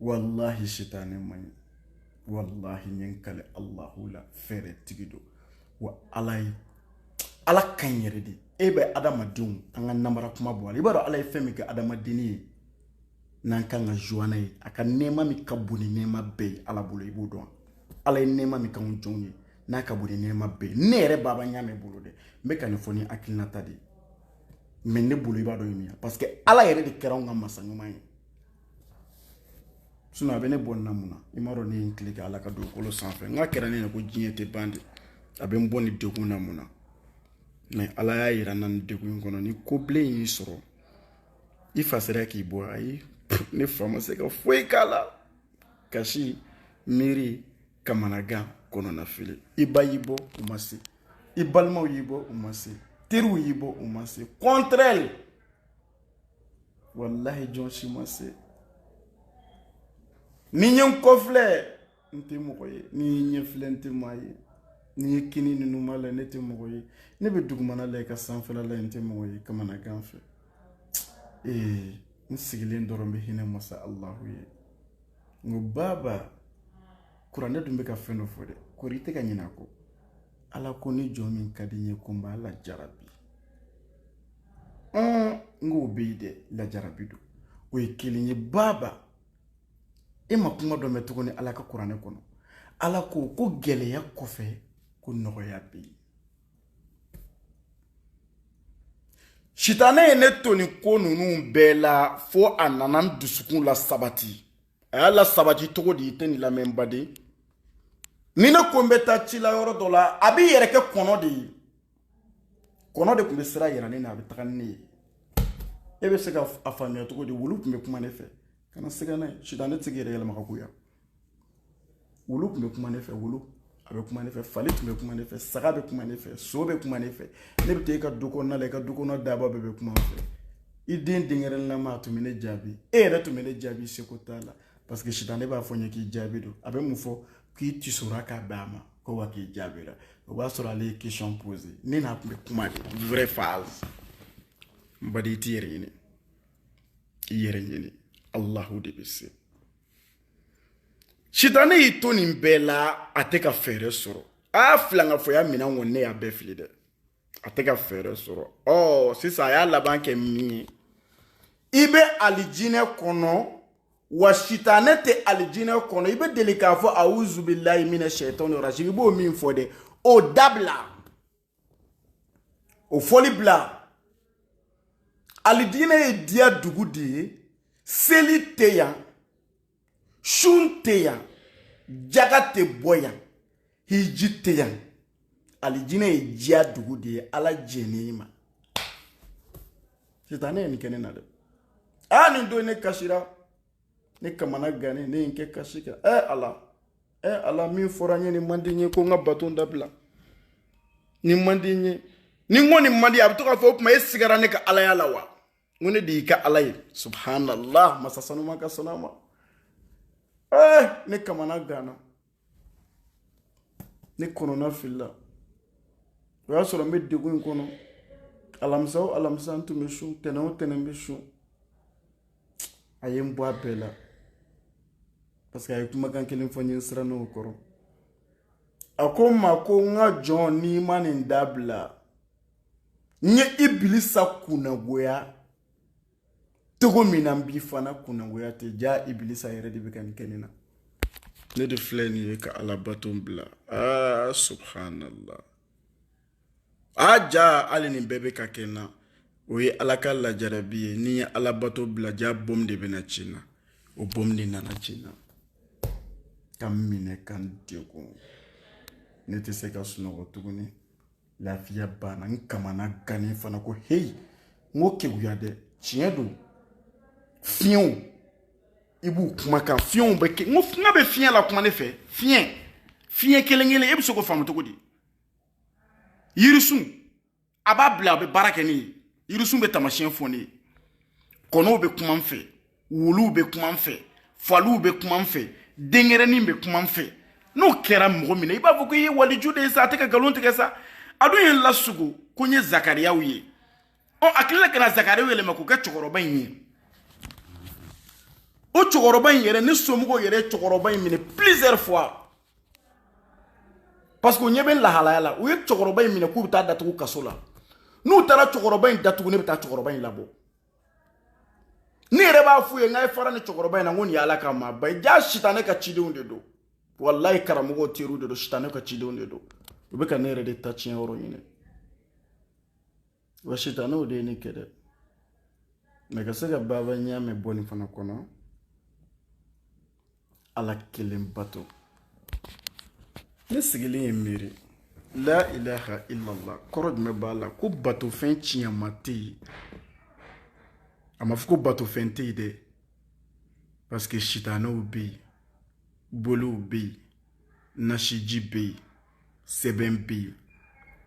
[SPEAKER 1] walahi sitanɛ man ɲi walahi n ye n kali alahu la fɛɛrɛtigi don wa ala ye ala ka ɲi yɛrɛ de e bɛ adamadenw an ka namara kuma bɔ a la i b'a dɔn ala ye fɛn min kɛ adamadenni ye n'an kan ka joie n'a ye a ka nɛɛma min ka bon ni nɛɛma bɛɛ ye ala bolo i b'o dɔn ala ye nɛɛma min k'anw jɔnw ye n'a ka bon ni nɛɛma bɛɛ ye ne yɛrɛ baba n y'a mɛn bolo dɛ n bɛ ka nin fɔ ni hakilinata de ye mais ne bolo i b'a dɔn ye min ye parce que ala yɛrɛ de kɛra anw ka masa ɲuman ye sinon a bɛ ne bɔ nin na mun na i m'a dɔn ne ye n tile kɛ ala ka dugukolo sanfɛ nka a kɛra ne ɲɛna ko diɲɛ tɛ ban de a bɛ n bɔ nin degun na mun na mais ala y'a yira n na nin degun in kɔnɔ ni ko bilen y'i sɔrɔ i fa sera k'i bɔ ayi ne fa ma se ka foyi k'a la kasi miiri kamanagan kɔnɔnafili i ba y'i bɔ u ma se i balimaw y'i bɔ u ma se teriw y'i bɔ u ma se contraire walahi jɔn si ma se ni n ye n kɔfilɛ n tɛ mɔgɔ ye ni n ye ɲɛfilɛ n tɛ maa ye ni n ye kinin ni numan lajɛ ne tɛ mɔgɔ ye ne bɛ dugumana lajɛ ka sanfɛla lajɛ n tɛ mɔgɔ ye kamanagan fɛ ee n sigilen dɔrɔn bɛ hinɛ masa alahu ye n ko baaba kuranɛ dun bɛ ka fɛn dɔ fɔ dɛ kori i tɛ ka ɲinɛ a kɔ ala ko ni jɔn min ka di n ye ko n b'a lajarabi n k'o bɛ yen dɛ lajarabi don o ye kelen ye baaba e ma kuma dɔ mɛn tuguni ala ka kuranɛ kɔnɔ ala ko ko gɛlɛya kɔfɛ ko nɔgɔya bɛ yen sitanɛ ye ne to nin ko ninnu bɛɛ la fo a nana n dusukun lasabati a y'a lasabati cogo di i tɛ nin lamɛn baden ni ne ko n bɛ taa ci la yɔrɔ dɔ la a b'i yɛrɛ kɛ kɔnɔ de ye kɔnɔ de tun bɛ sira yira ne na a bɛ taga ni ne ye e bɛ se ka a faamuya cogo di wulu tun bɛ kuma ne fɛ kana siga n'a ye sitanɛ tɛ se k'i yɛrɛ yɛlɛma ka k'o ye wulu tun bɛ kuma ne fɛ wulu a bɛ kuma ne fɛ fali tun bɛ kuma ne fɛ saga bɛ kuma ne fɛ so bɛ kuma ne fɛ ne bɛ taa i ka du kɔnɔna la i ka du kɔnɔ daaba bɛɛ bɛ kuma n fɛ i den denkɛrɛnnama a tun bɛ ne jaabi e yɛrɛ tun bɛ ne jaabi seko t'a la parce que sitanɛ b'a fɔ n ye k'i jaabi don a bɛ mun fɔ k'i tisora k'a bɛn a ma ko wa k'i jaabira o b'a sɔrɔ ale ye question posé ne n'a tun bɛ kuma de vrai phase n baden i t'i yɛrɛ ɲini i yɛrɛ ɲini alahu de bɛ se sitanɛ y'i to nin bɛɛ la a tɛ ka fɛɛrɛ sɔrɔ a y'a filankafoya minɛn kɔni ne y'a bɛɛ fili dɛ a tɛ ka fɛɛrɛ sɔrɔ ɔ sisan a y'a laban kɛ min ye i bɛ alijinɛ kɔnɔ wa sitanɛ tɛ alijinɛ kɔnɔ i bɛ deli k'a fɔ awuzu bilahi mina shaitani rajim i b'o min fɔ dɛ o dabila o fɔli bila alijinɛ ye diya dugu de ye seli tɛ yan sun tɛ yan jaga tɛ bɔ yan hiji tɛ yan alijinɛ ye diya dugu de ye ala jɛnn'i ma sitanɛ ye nin kɛ ne na dɛ aa nin don ne kasira ne kamana gannen ne ye n kɛ kasi kan ɛ ala ɛ ala min fɔra n ye nin man di n ye ko n ka bato dabila nin man di n ye ni n ko nin man di a bɛ to k'a fɔ o tuma e sigara ne ka alaya la wa n ko ne de y'i ka ala ye subhanallah masa sanuman ka sanu a ma ɛ ne kamana ganna ne kɔnɔna filila o y'a sɔrɔ n bɛ degun in kɔnɔ alamisa o alamisa n tun bɛ sun tɛnɛn o tɛnɛn n bɛ sun a ye n bɔ a bɛɛ la parce que a ye kumakan kelen fɔ n ye n siranna o kɔrɔ a ko n ma ko n ka jɔn n'i ma nin dabila n ye ibilisa kunnagoya cogo min na n b'i fana kunnagoya ten jaa ibilisa yɛrɛ de bɛ ka nin kɛ ne na ne de filɛ nin ye ka alabato bila aa subhanallah a jaa hali nin bɛɛ bɛ ka kɛ n na o ye ala ka lajarabi ye ni n ye alabato bila jaa bom de bɛna ci n na o bom de nana ci n na ka n minɛ ka n degun ne tɛ se ka sunɔgɔ tuguni lafiya banna n kamana gannen fana ko heyi n ko keguya dɛ tiɲɛ don fiɲɛw i b'u kumakan fiɲɛw bɛ kɛ n ko nka a bɛ fiɲɛ lakuma ne fɛ fiɲɛ fiɲɛ kelen kelen e bɛ se k'o faamu cogo di yirisun a b'a bila a bɛ baara kɛ ne ye yirisun bɛ taamasiyɛn fɔ ne ye kɔnɔw bɛ kuma n fɛ wuluw bɛ kuma n fɛ faliw bɛ kuma n fɛ denkɛrɛnin bɛ kuma n fɛ n'o kɛra mɔgɔ min na i b'a fɔ ko i ye waliju de ye sa a tɛ ka nkalon tigɛ sa a dun ye n lasugo ko n ye zakariyaw ye ɔ a tilala ka na zakariyaw yɛlɛma k'o kɛ cɛkɔrɔba in ye o cɛkɔrɔba in yɛrɛ ne somɔgɔw yɛrɛ ye cɛkɔrɔba in minɛ plusieurs fois parce que u ɲɛ bɛ lahalaya la u ye cɛkɔrɔba in minɛ k'u bɛ taa a datugu kaso la n'u taara cɛkɔrɔba in datugu ne bɛ taa cɛkɔrɔba in labɔ ne yɛrɛ b'a f'u ye n k'a ye fara nin cɛkɔrɔba in na n ko nin y'ala ka maaba ye jaa sitanɛ ka cidenw de don walayi karamɔgɔw teriw de don sitanɛ ka cidenw de don u bɛ ka ne yɛrɛ de ta tiɲɛ yɔrɔ ɲini wa sitanɛw de ye ne kɛ dɛmɛ ka se ka baaba ɲɛ mɛ bɔ nin fana kɔnɔ ala kelen bato ne sigilen ye miiri la ilaha illallah kɔrɔ jumɛn b'a la ko batofɛn tiɲɛma tɛ yen a ma fɔ ko batofɛn tɛ yen dɛ parce que sitanɛw bɛ yen boliw bɛ yen nasiji bɛ yen sɛbɛn bɛ yen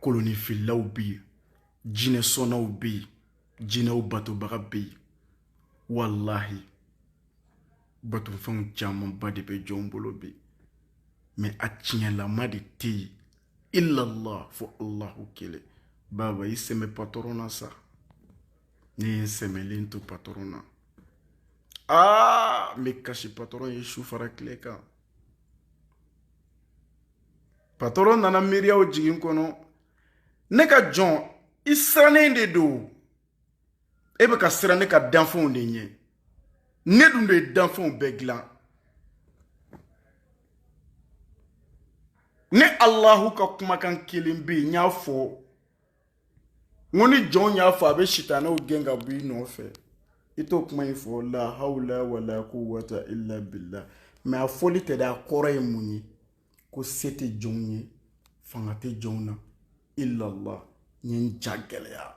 [SPEAKER 1] kolonifililaw bɛ yen jinɛ sɔnnaw bɛ yen jinɛw batobaga bɛ yen walahi batofɛnw camanba de bɛ jɔnw bolo bi mɛ a tiɲɛlama de tɛ yen illallah fo allahu kelen baba i sɛmɛ patɔrɔn na sa ne ye n sɛmɛlen to patɔrɔn na aa n bɛ kasi patɔrɔn ye su fara tile kan patɔrɔn nana miiriyaw jigin kɔnɔ ne ka jɔn i sirannen de don e bɛ ka siran ne ka danfɛnw de ɲɛ ne dun de ye danfɛnw bɛɛ dilan ne alahu ka kumakan kelen bɛ yen n y'a fɔ n ko ni jɔn y'a fɔ a bɛ sitanɛw gɛn ka bɔ i nɔfɛ i t'o kuma in fɔ la hawla wala quwwata illa billah mɛ a fɔli tɛ dɛ a kɔrɔ ye mun ye ko se tɛ jɔnw ye fanga tɛ jɔnw na illallah n ye n ja gɛlɛya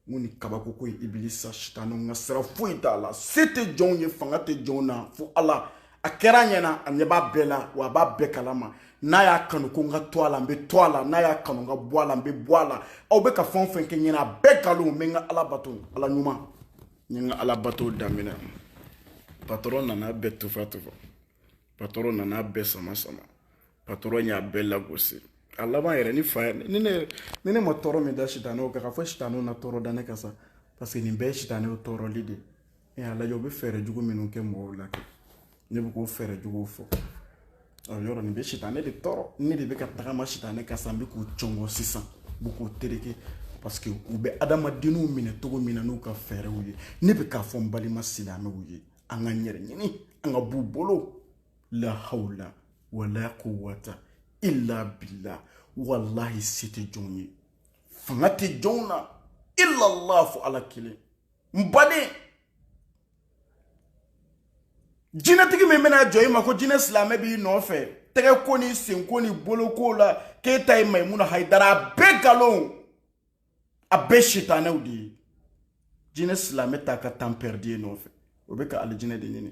[SPEAKER 1] n ko nin kabako ko ye ibilisa sitanɛw ka sira foyi t'a la se tɛ jɔnw ye fanga tɛ jɔnw na fo ala a kɛra a ɲɛna a ɲɛ b'a bɛɛ la wa a b'a bɛɛ kalama n'a y'a kanu ko n ka to a la n bɛ to a la n'a y'a kanu n ka bɔ a la n bɛ bɔ a la aw bɛ ka fɛn o fɛn kɛ ɲɛna a bɛɛ nkalon n bɛ n ka ala bato ala ɲuman n ye n ka ala bato daminɛ patɔrɔn nana bɛɛ tufa tufa patɔrɔn nana bɛɛ sama sama patɔrɔn y'a bɛɛ lagosi a laban yɛrɛ ni fa yɛrɛ ni ne ni ne ma tɔɔrɔ min da sitanɛw kan ka fɔ sitanɛw na tɔɔrɔ da ne kan sa parce que nin bɛɛ ye sitanɛw tɔɔrɔli de ye e y'a lajɛ u bɛ fɛɛrɛ jugu minnu kɛ mɔgɔw la kɛ ne bɛ k'o fɛɛrɛ juguw fɔ o yɔrɔ nin bɛ sitanɛ de tɔɔrɔ ne de bɛ ka tagama sitanɛ kan sa n bɛ k'u cɔngɔ sisan n bɛ k'u tereke parce que u bɛ adamadenw minɛ cogo min na n'u ka fɛɛrɛw ye ne bɛ k'a fɔ n balima silamɛw ye an k'an yɛrɛ ɲini an ka b'u bolo la hawla wala quwwata illa billah walahi se tɛ jɔnw ye fanga tɛ jɔnw na illa allah fo ala kelen n baden jinɛtigi min bɛna jɔ i ma ko jinɛ silamɛ b'i nɔfɛ tɛgɛ ko ni senko ni boloko la k'e ta ye mayimuna hayidara a bɛɛ nkalon a bɛɛ sitanɛw de ye jinɛ silamɛ t'a ka temps perdu e nɔfɛ o bɛ ka alijinɛ de ɲini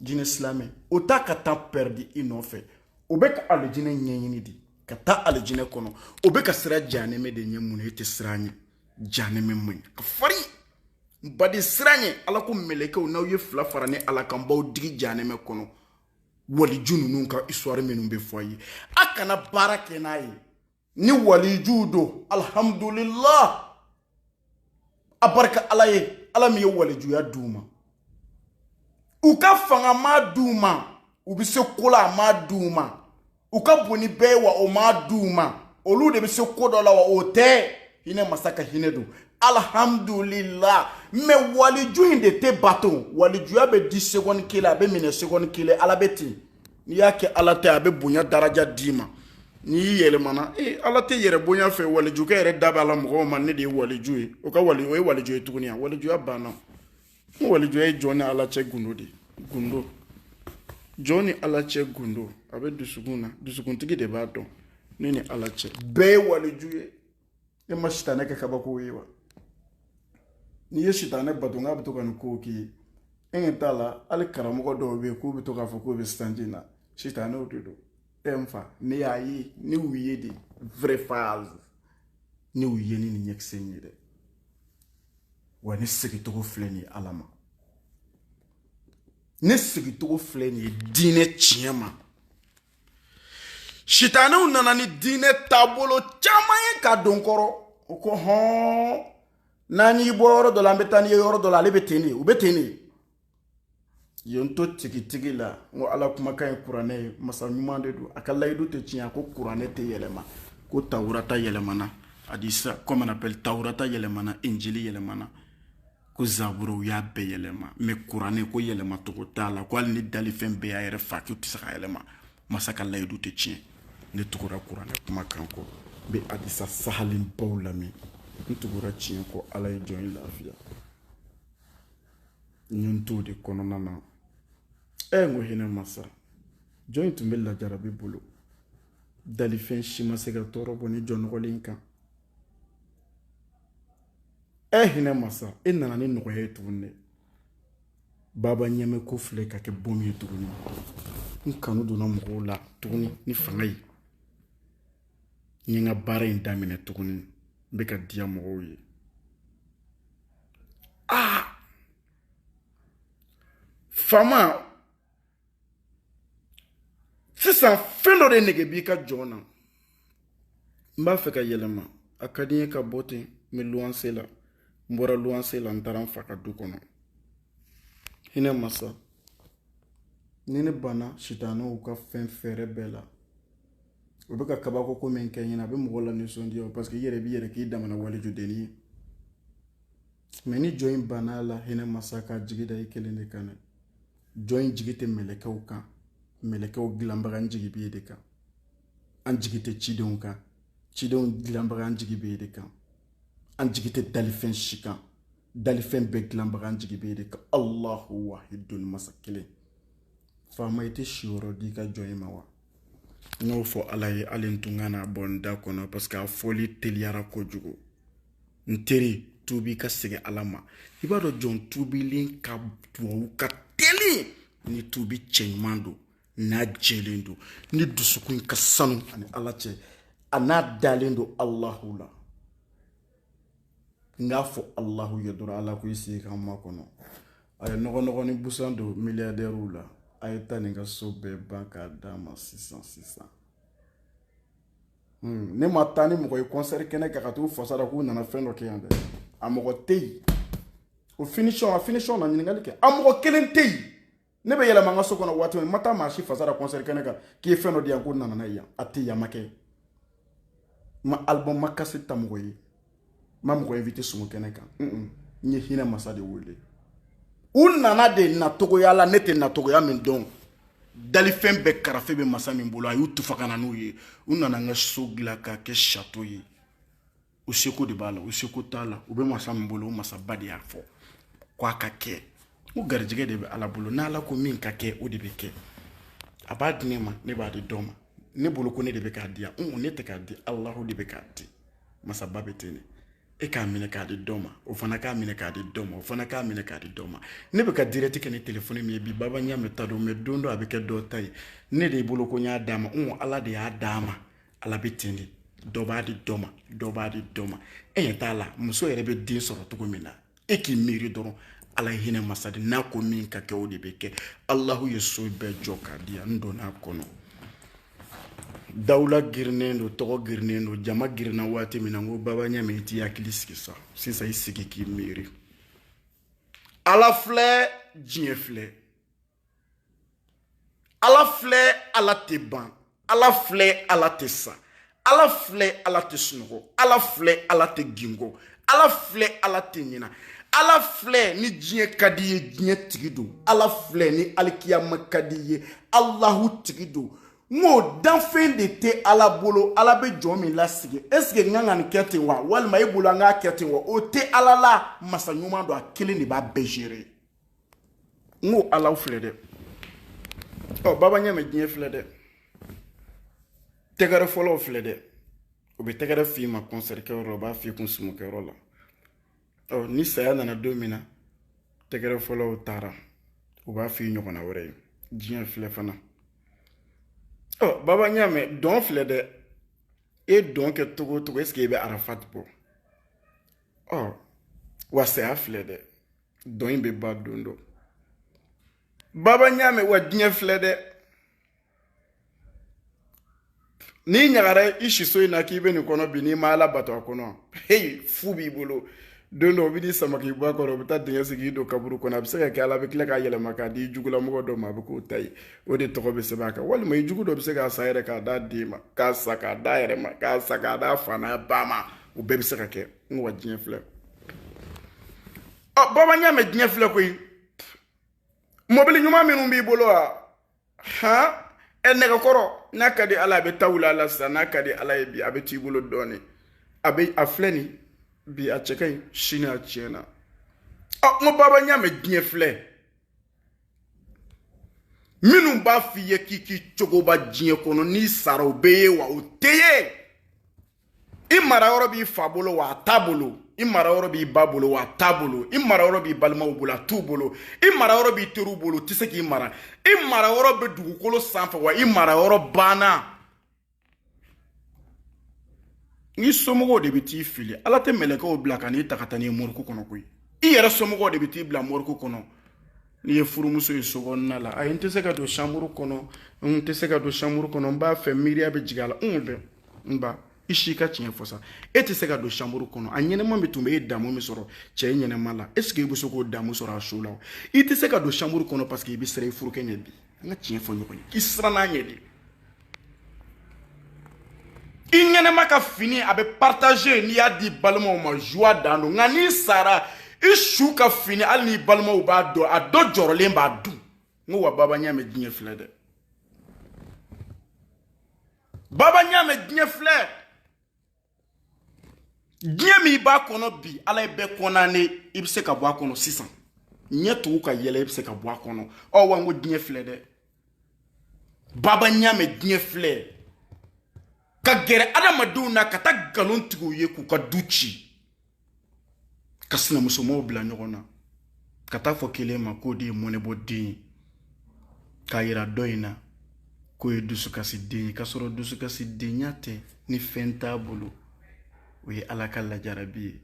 [SPEAKER 1] jinɛ silamɛ o t'a ka temps perdu i nɔfɛ o bɛ ka alijinɛ ɲɛɲini de ka taa alijinɛ kɔnɔ o bɛ ka siran janɛmɛ de ɲɛ mun na e tɛ siran ɲɛ janɛmɛ man ɲi ka farin n baden siran ɲɛ ala ko mɛlɛkɛw n'aw ye fila fara ne ala kan b'aw digi janɛmɛ kɔnɔ waliju ninnu ka histoire minnu bɛ fɔ a ye a kana baara kɛ n'a ye ni walijuw don alhamdulillah a barika ala ye ala min ye walijuya d'u ma u ka fanga ma d'u ma u bɛ se ko la a ma d'u ma u ka bon ni bɛɛ ye wa o m'a di u ma olu de bɛ se ko dɔ la wa o tɛ hinɛ masa ka hinɛ don alhamdulila mais waliju in de tɛ bato walijuya bɛ di seconde kelen a bɛ minɛ seconde kelen ala bɛ ten n'i y'a kɛ ala tɛ a bɛ bonya daraja d'i ma n'i y'i yɛlɛmana ee ala tɛ yɛrɛ bonya fɛ waliju k'a yɛrɛ da b'a la mɔgɔw ma ne de ye waliju ye o ka wali o ye waliju ye tuguni a walijuya banna walijuya ye jɔn ni ala cɛ gundo de gundo jɔn ni ala cɛ gundo a bɛ dusukun na dusukuntigi de b'a dɔn ne ni ala cɛ bɛɛ ye waliju ye e ma sitanɛ kɛ kabako ye wa n'i ye sitanɛ bato n'a bɛ to ka nin kow k'i ye e ɲɛ t'a la hali karamɔgɔ dɔw bɛ yen k'u bɛ to k'a fɔ k'u bɛ sitanji na sitanɛw de don e n fa ne y'a ye ne y'u ye de vrai face ne y'u ye ni nin ɲɛkisɛ in ye dɛ wa ne segincogo filɛ nin ye ala ma ne segincogo filɛ nin ye diinɛ tiɲɛ ma sitanɛw nana ni diinɛ taabolo caman ye k'a don n kɔrɔ u ko hɔn n'an y'i bɔ yɔrɔ dɔ la an bɛ taa n'i ye yɔrɔ dɔ la ale bɛ ten de u bɛ ten de ye n to tigitigi la n ko ala kumakan ye kuranɛ ye masa ɲuman de don a ka layidu tɛ tiɲɛ a ko kuranɛ tɛ yɛlɛma ko tawurata yɛlɛmana hadisa comme on appelle tawurata yɛlɛmana injili yɛlɛmana ko zaburu u y'a bɛɛ yɛlɛma mais kuranɛ ko yɛlɛma tɔgɔ t'a la ko hali ni dalifɛn bɛɛ y'a yɛrɛ fa k'u tɛ se k'a yɛlɛma masa ka layidu tɛ tiɲɛ ne tugura kuranɛ kumakan kɔ n bɛ hadisa sahalenbaw lamɛn n tugura tiɲɛ kɔ ala ye jɔn in lafiya n ye n t'o de kɔnɔna na ɛ n ko hinɛ masa jɔn in tun bɛ lajarabi bolo dalifɛn si ma se ka tɔɔrɔ bɔ nin jɔn nɔgɔlen kan ɛ hinɛ masa e nana ni nɔgɔya ye tuguni dɛ baba ɲɛmɛ ko filɛ ka kɛ bɔmu ye tuguni n kanu donna mɔgɔw la tuguni ni fanga ye n ye n ka baara in daminɛ tuguni n bɛ ka diya mɔgɔw ye aa faama sisan fɛn dɔ de nege b'i ka jɔn na n b'a fɛ ka yɛlɛma a ka di n ye ka bɔ ten n bɛ luwanse la n bɔra luwanse la n taara n fa ka du kɔnɔ hinɛ masa ni ne banna sitanɛw ka fɛn fɛɛrɛ bɛɛ la o bɛ ka kabako ko min kɛ n ɲɛ na a bɛ mɔgɔ lanisɔndiya parce que i yɛrɛ b'i yɛrɛ k'i damana walijudennin ye mais ni jɔn in banna a la hinɛ masa k'a jigi da i kelen de kan dɛ jɔn in jigi tɛ mɛlɛkɛw kan mɛlɛkɛw dilanbaga n jigi b'e de kan an jigi tɛ cidenw kan cidenw dilanbaga an jigi b'e de kan an jigi tɛ dalifɛn si kan dalifɛn bɛɛ dilanbaga an jigi b'e de kan alahu wahidun masa kelen faama i tɛ siyɔrɔ di i ka jɔn in ma wa n y'o fɔ ala ye hali n tun ka na bɔ n da kɔnɔ parce que a fɔli teliyara kojugu n teri tubi ka segin ala ma i b'a dɔn jɔn tubilen ka duwawu ka teli ni tubi cɛɲuman don n'a jɛlen don n'i dusukun ka sanu ani ala cɛ a n'a dalen don alahu la n k'a fɔ alahu ye dɔrɔn ala ko i sigi k'an makɔnɔ a ye nɔgɔnɔgɔ ni busan don miliyadɛriw la a ye taa nin ka so bɛɛ ban k'a d'a ma sisan sisan hmm, ne ma taa ni mɔgɔ ye kɔnsɛri kɛnɛ kan ka t'u fasa da k'u nana fɛn dɔ kɛ yan dɛ a mɔgɔ tɛ yen o finisɔn a finisɔn na ɲininkali kɛ a mɔgɔ kelen tɛ yen ne bɛ yɛlɛma n ka so kɔnɔ waati min n ma taa maa si fasa da kɔnsɛri kɛnɛ kan k'i ye fɛn dɔ di yan ko n nana n'a ye yan a tɛ yan n m'a kɛ n ma alibɔn n ma kasɛti ta mɔgɔ ye n ma mɔgɔ invite sumu kɛnɛ kan n ye hinɛ masa de wele u nana de nacogoya la ne tɛ nacogoya min dɔn dalifɛn bɛɛ karafe bɛ masa min bolo a y'u tufa ka na n'u ye u nana n ka so dilan k'a kɛ sato ye u seko de b'a la u seko t'a la u bɛ masa min bolo o masaba de y'a fɔ ko a ka kɛ o garijɛgɛ de bɛ ala bolo n'ala ko min ka kɛ o de bɛ kɛ a b'a di ne ma ne b'a di dɔ ma ne bolo ko ne de bɛ k'a di yan n ne tɛ k'a di alahu de bɛ k'a di masaba bɛ ten de e k'a minɛ k'a di dɔ ma o fana k'a minɛ k'a di dɔ ma o fana k'a minɛ k'a di dɔ ma ne bɛ ka direct kɛ ni telefɔni min ye bi baba ɲamɛ ta don mɛ don dɔ a bɛ kɛ dɔ ta ye ne de bolo ko n y'a d'a ma wa ala de y'a d'a ma ala bɛ ten de dɔ b'a di dɔ ma dɔ b'a di dɔ ma e ɲɛ t'a la muso yɛrɛ bɛ den sɔrɔ cogo min na e k'i miiri dɔrɔn ala ye hinɛ masa de n'a ko min ka kɛ o de bɛ kɛ alahu ye so bɛɛ jɔ k'a di yan n donn'a kɔnɔ dawula girinnen don tɔgɔ girinnen don jama girinna waati min na n ko baba ɲamɛ i t'i hakili sigi sa sisan i sigi k'i miiri ala filɛ diɲɛ filɛ ala filɛ ala tɛ ban ala filɛ ala tɛ sa ala filɛ ala tɛ sunɔgɔ ala filɛ ala tɛ gingɔ ala filɛ ala tɛ ɲina ala filɛ ni diɲɛ ka di ye diɲɛ tigi don ala filɛ ni alikiyama ka di ye alahu tigi don n ko danfɛn de tɛ ala bolo ala bɛ jɔn min lasigi esike n kan ka nin kɛ ten wa walima e bolo an k'a kɛ ten wa o tɛ ala la masa ɲuman don a kelen de b'a bɛɛ gérer n ko ala filɛ dɛ ɔ baba ɲamɛ diɲɛ filɛ dɛ tɛgɛrɛfɔlaw filɛ dɛ u bɛ tɛgɛrɛ f'i ma kɔnsɛri kɛyɔrɔ la u b'a f'i kun sumukɛyɔrɔ la ɔ ni saya nana don min na tɛgɛrɛfɔlaw taara u b'a f'i ɲɔgɔnna wɛrɛ ye diɲɛ filɛ fana ɔ baba ɲamɛ dɔn filɛ dɛ e dɔn kɛ cogo o cogo esike i bɛ arafat bɔ ɔ wa saya filɛ dɛ dɔn in bɛ ban don dɔ baba ɲamɛ wa diɲɛ filɛ dɛ n'i ɲagara i siso in na k'i bɛ nin kɔnɔ bi n'i ma ala bato a kɔnɔ heyi fu b'i bolo don dɔ u bɛ n'i sama k'i bɔ a kɔrɔ u bɛ taa dingɛ sigi k'i don kaburu kɔnɔ a bɛ se ka kɛ ala bɛ tila k'a yɛlɛma k'a di jugulamɔgɔ dɔ ma a bɛ k'o ta ye o de tɔgɔ bɛ sɛbɛn a kan walima i jugu dɔ bɛ se k'a san yɛrɛ k'a d'a den ma k'a san k'a d'a yɛrɛ ma k'a san k'a d'a fa n'a ba ma o bɛɛ bɛ se ka kɛ n ko wa diɲɛ filɛ ɔ baba ɲamɛ diɲɛ filɛ koyi mɔbili ɲuman minnu b'i bolo wa han ɛ nɛgɛkɔrɔ n'a ka di ala a bɛ taa wula la sisan n'a ka di ala ye bi a bɛ t'i bolo dɔɔnin a bɛ a filɛ nin bi a cɛ ka ɲi sini a tiɲɛna ɔ n ko baba ɲamɛ diɲɛ filɛ minnu b'a f'i ye k'i k'i cogoba diɲɛ kɔnɔ n'i sara u bɛ ye wa u tɛ ye i mara yɔrɔ b'i fa bolo wa a t'a bolo i mara yɔrɔ b'i ba bolo wa a t'a bolo i mara yɔrɔ b'i balimaw bolo a t'u bolo i mara yɔrɔ b'i teriw bolo u tɛ se k'i mara i mara yɔrɔ bɛ dugukolo sanfɛ wa i mara yɔrɔ banna n'i somɔgɔw de bɛ t'i fili ala tɛ mɛlɛkɛw bila ka n'i ta ka taa n'i ye moriku kɔnɔ koyi i yɛrɛ somɔgɔw de bɛ t'i bila moriku kɔnɔ n'i ye furumuso ye so kɔnɔna la ayi n tɛ se ka don chambre kɔnɔ n tɛ se ka don chambre kɔnɔ n b'a fɛ miiriya bɛ jigin a la n bɛ n ba i si ka tiɲɛ fɔ sa e tɛ se ka don chambre kɔnɔ a ɲɛnama min tun bɛ e damu min sɔrɔ cɛ ɲɛnama la est ce que i bɛ se k'o damu sɔrɔ a su la i tɛ se ka don chambre kɔnɔ parce que i bɛ siran i furukɛ ɲɛ bi an ka tiɲɛ fɔ ɲɔgɔn ye k'i siranna a ɲɛ de i ɲɛnama ka fini a bɛ partager n'i y'a di balimaw ma joie dan don nka n'i sara i su ka fini hali n'i balimaw b'a don a dɔ jɔrɔlen b'a don n ko wa baba ɲamɛ diɲɛ filɛ dɛ baba ɲamɛ diɲɛ filɛ diɲɛ min i b'a kɔnɔ bi ala ye bɛɛ condamner i bɛ se ka bɔ a kɔnɔ sisan ɲɛ tugu ka yɛlɛ i bɛ se ka bɔ a kɔnɔ ɔ wa n ko diɲɛ filɛ dɛ baba ɲamɛ diɲɛ filɛ ka gɛrɛ adamadenw na ka taa nkalon tigɛ u ye k'u ka du ci ka sinamusomaw bila ɲɔgɔn na ka taa fɔ kelen ma k'o de ye mɔnɛbɔ den ye k'a yira dɔ in na k'o ye dusukasi den ye k'a sɔrɔ dusukasi denya tɛ ni fɛn t'a bolo o ye ala ka lajarabi ye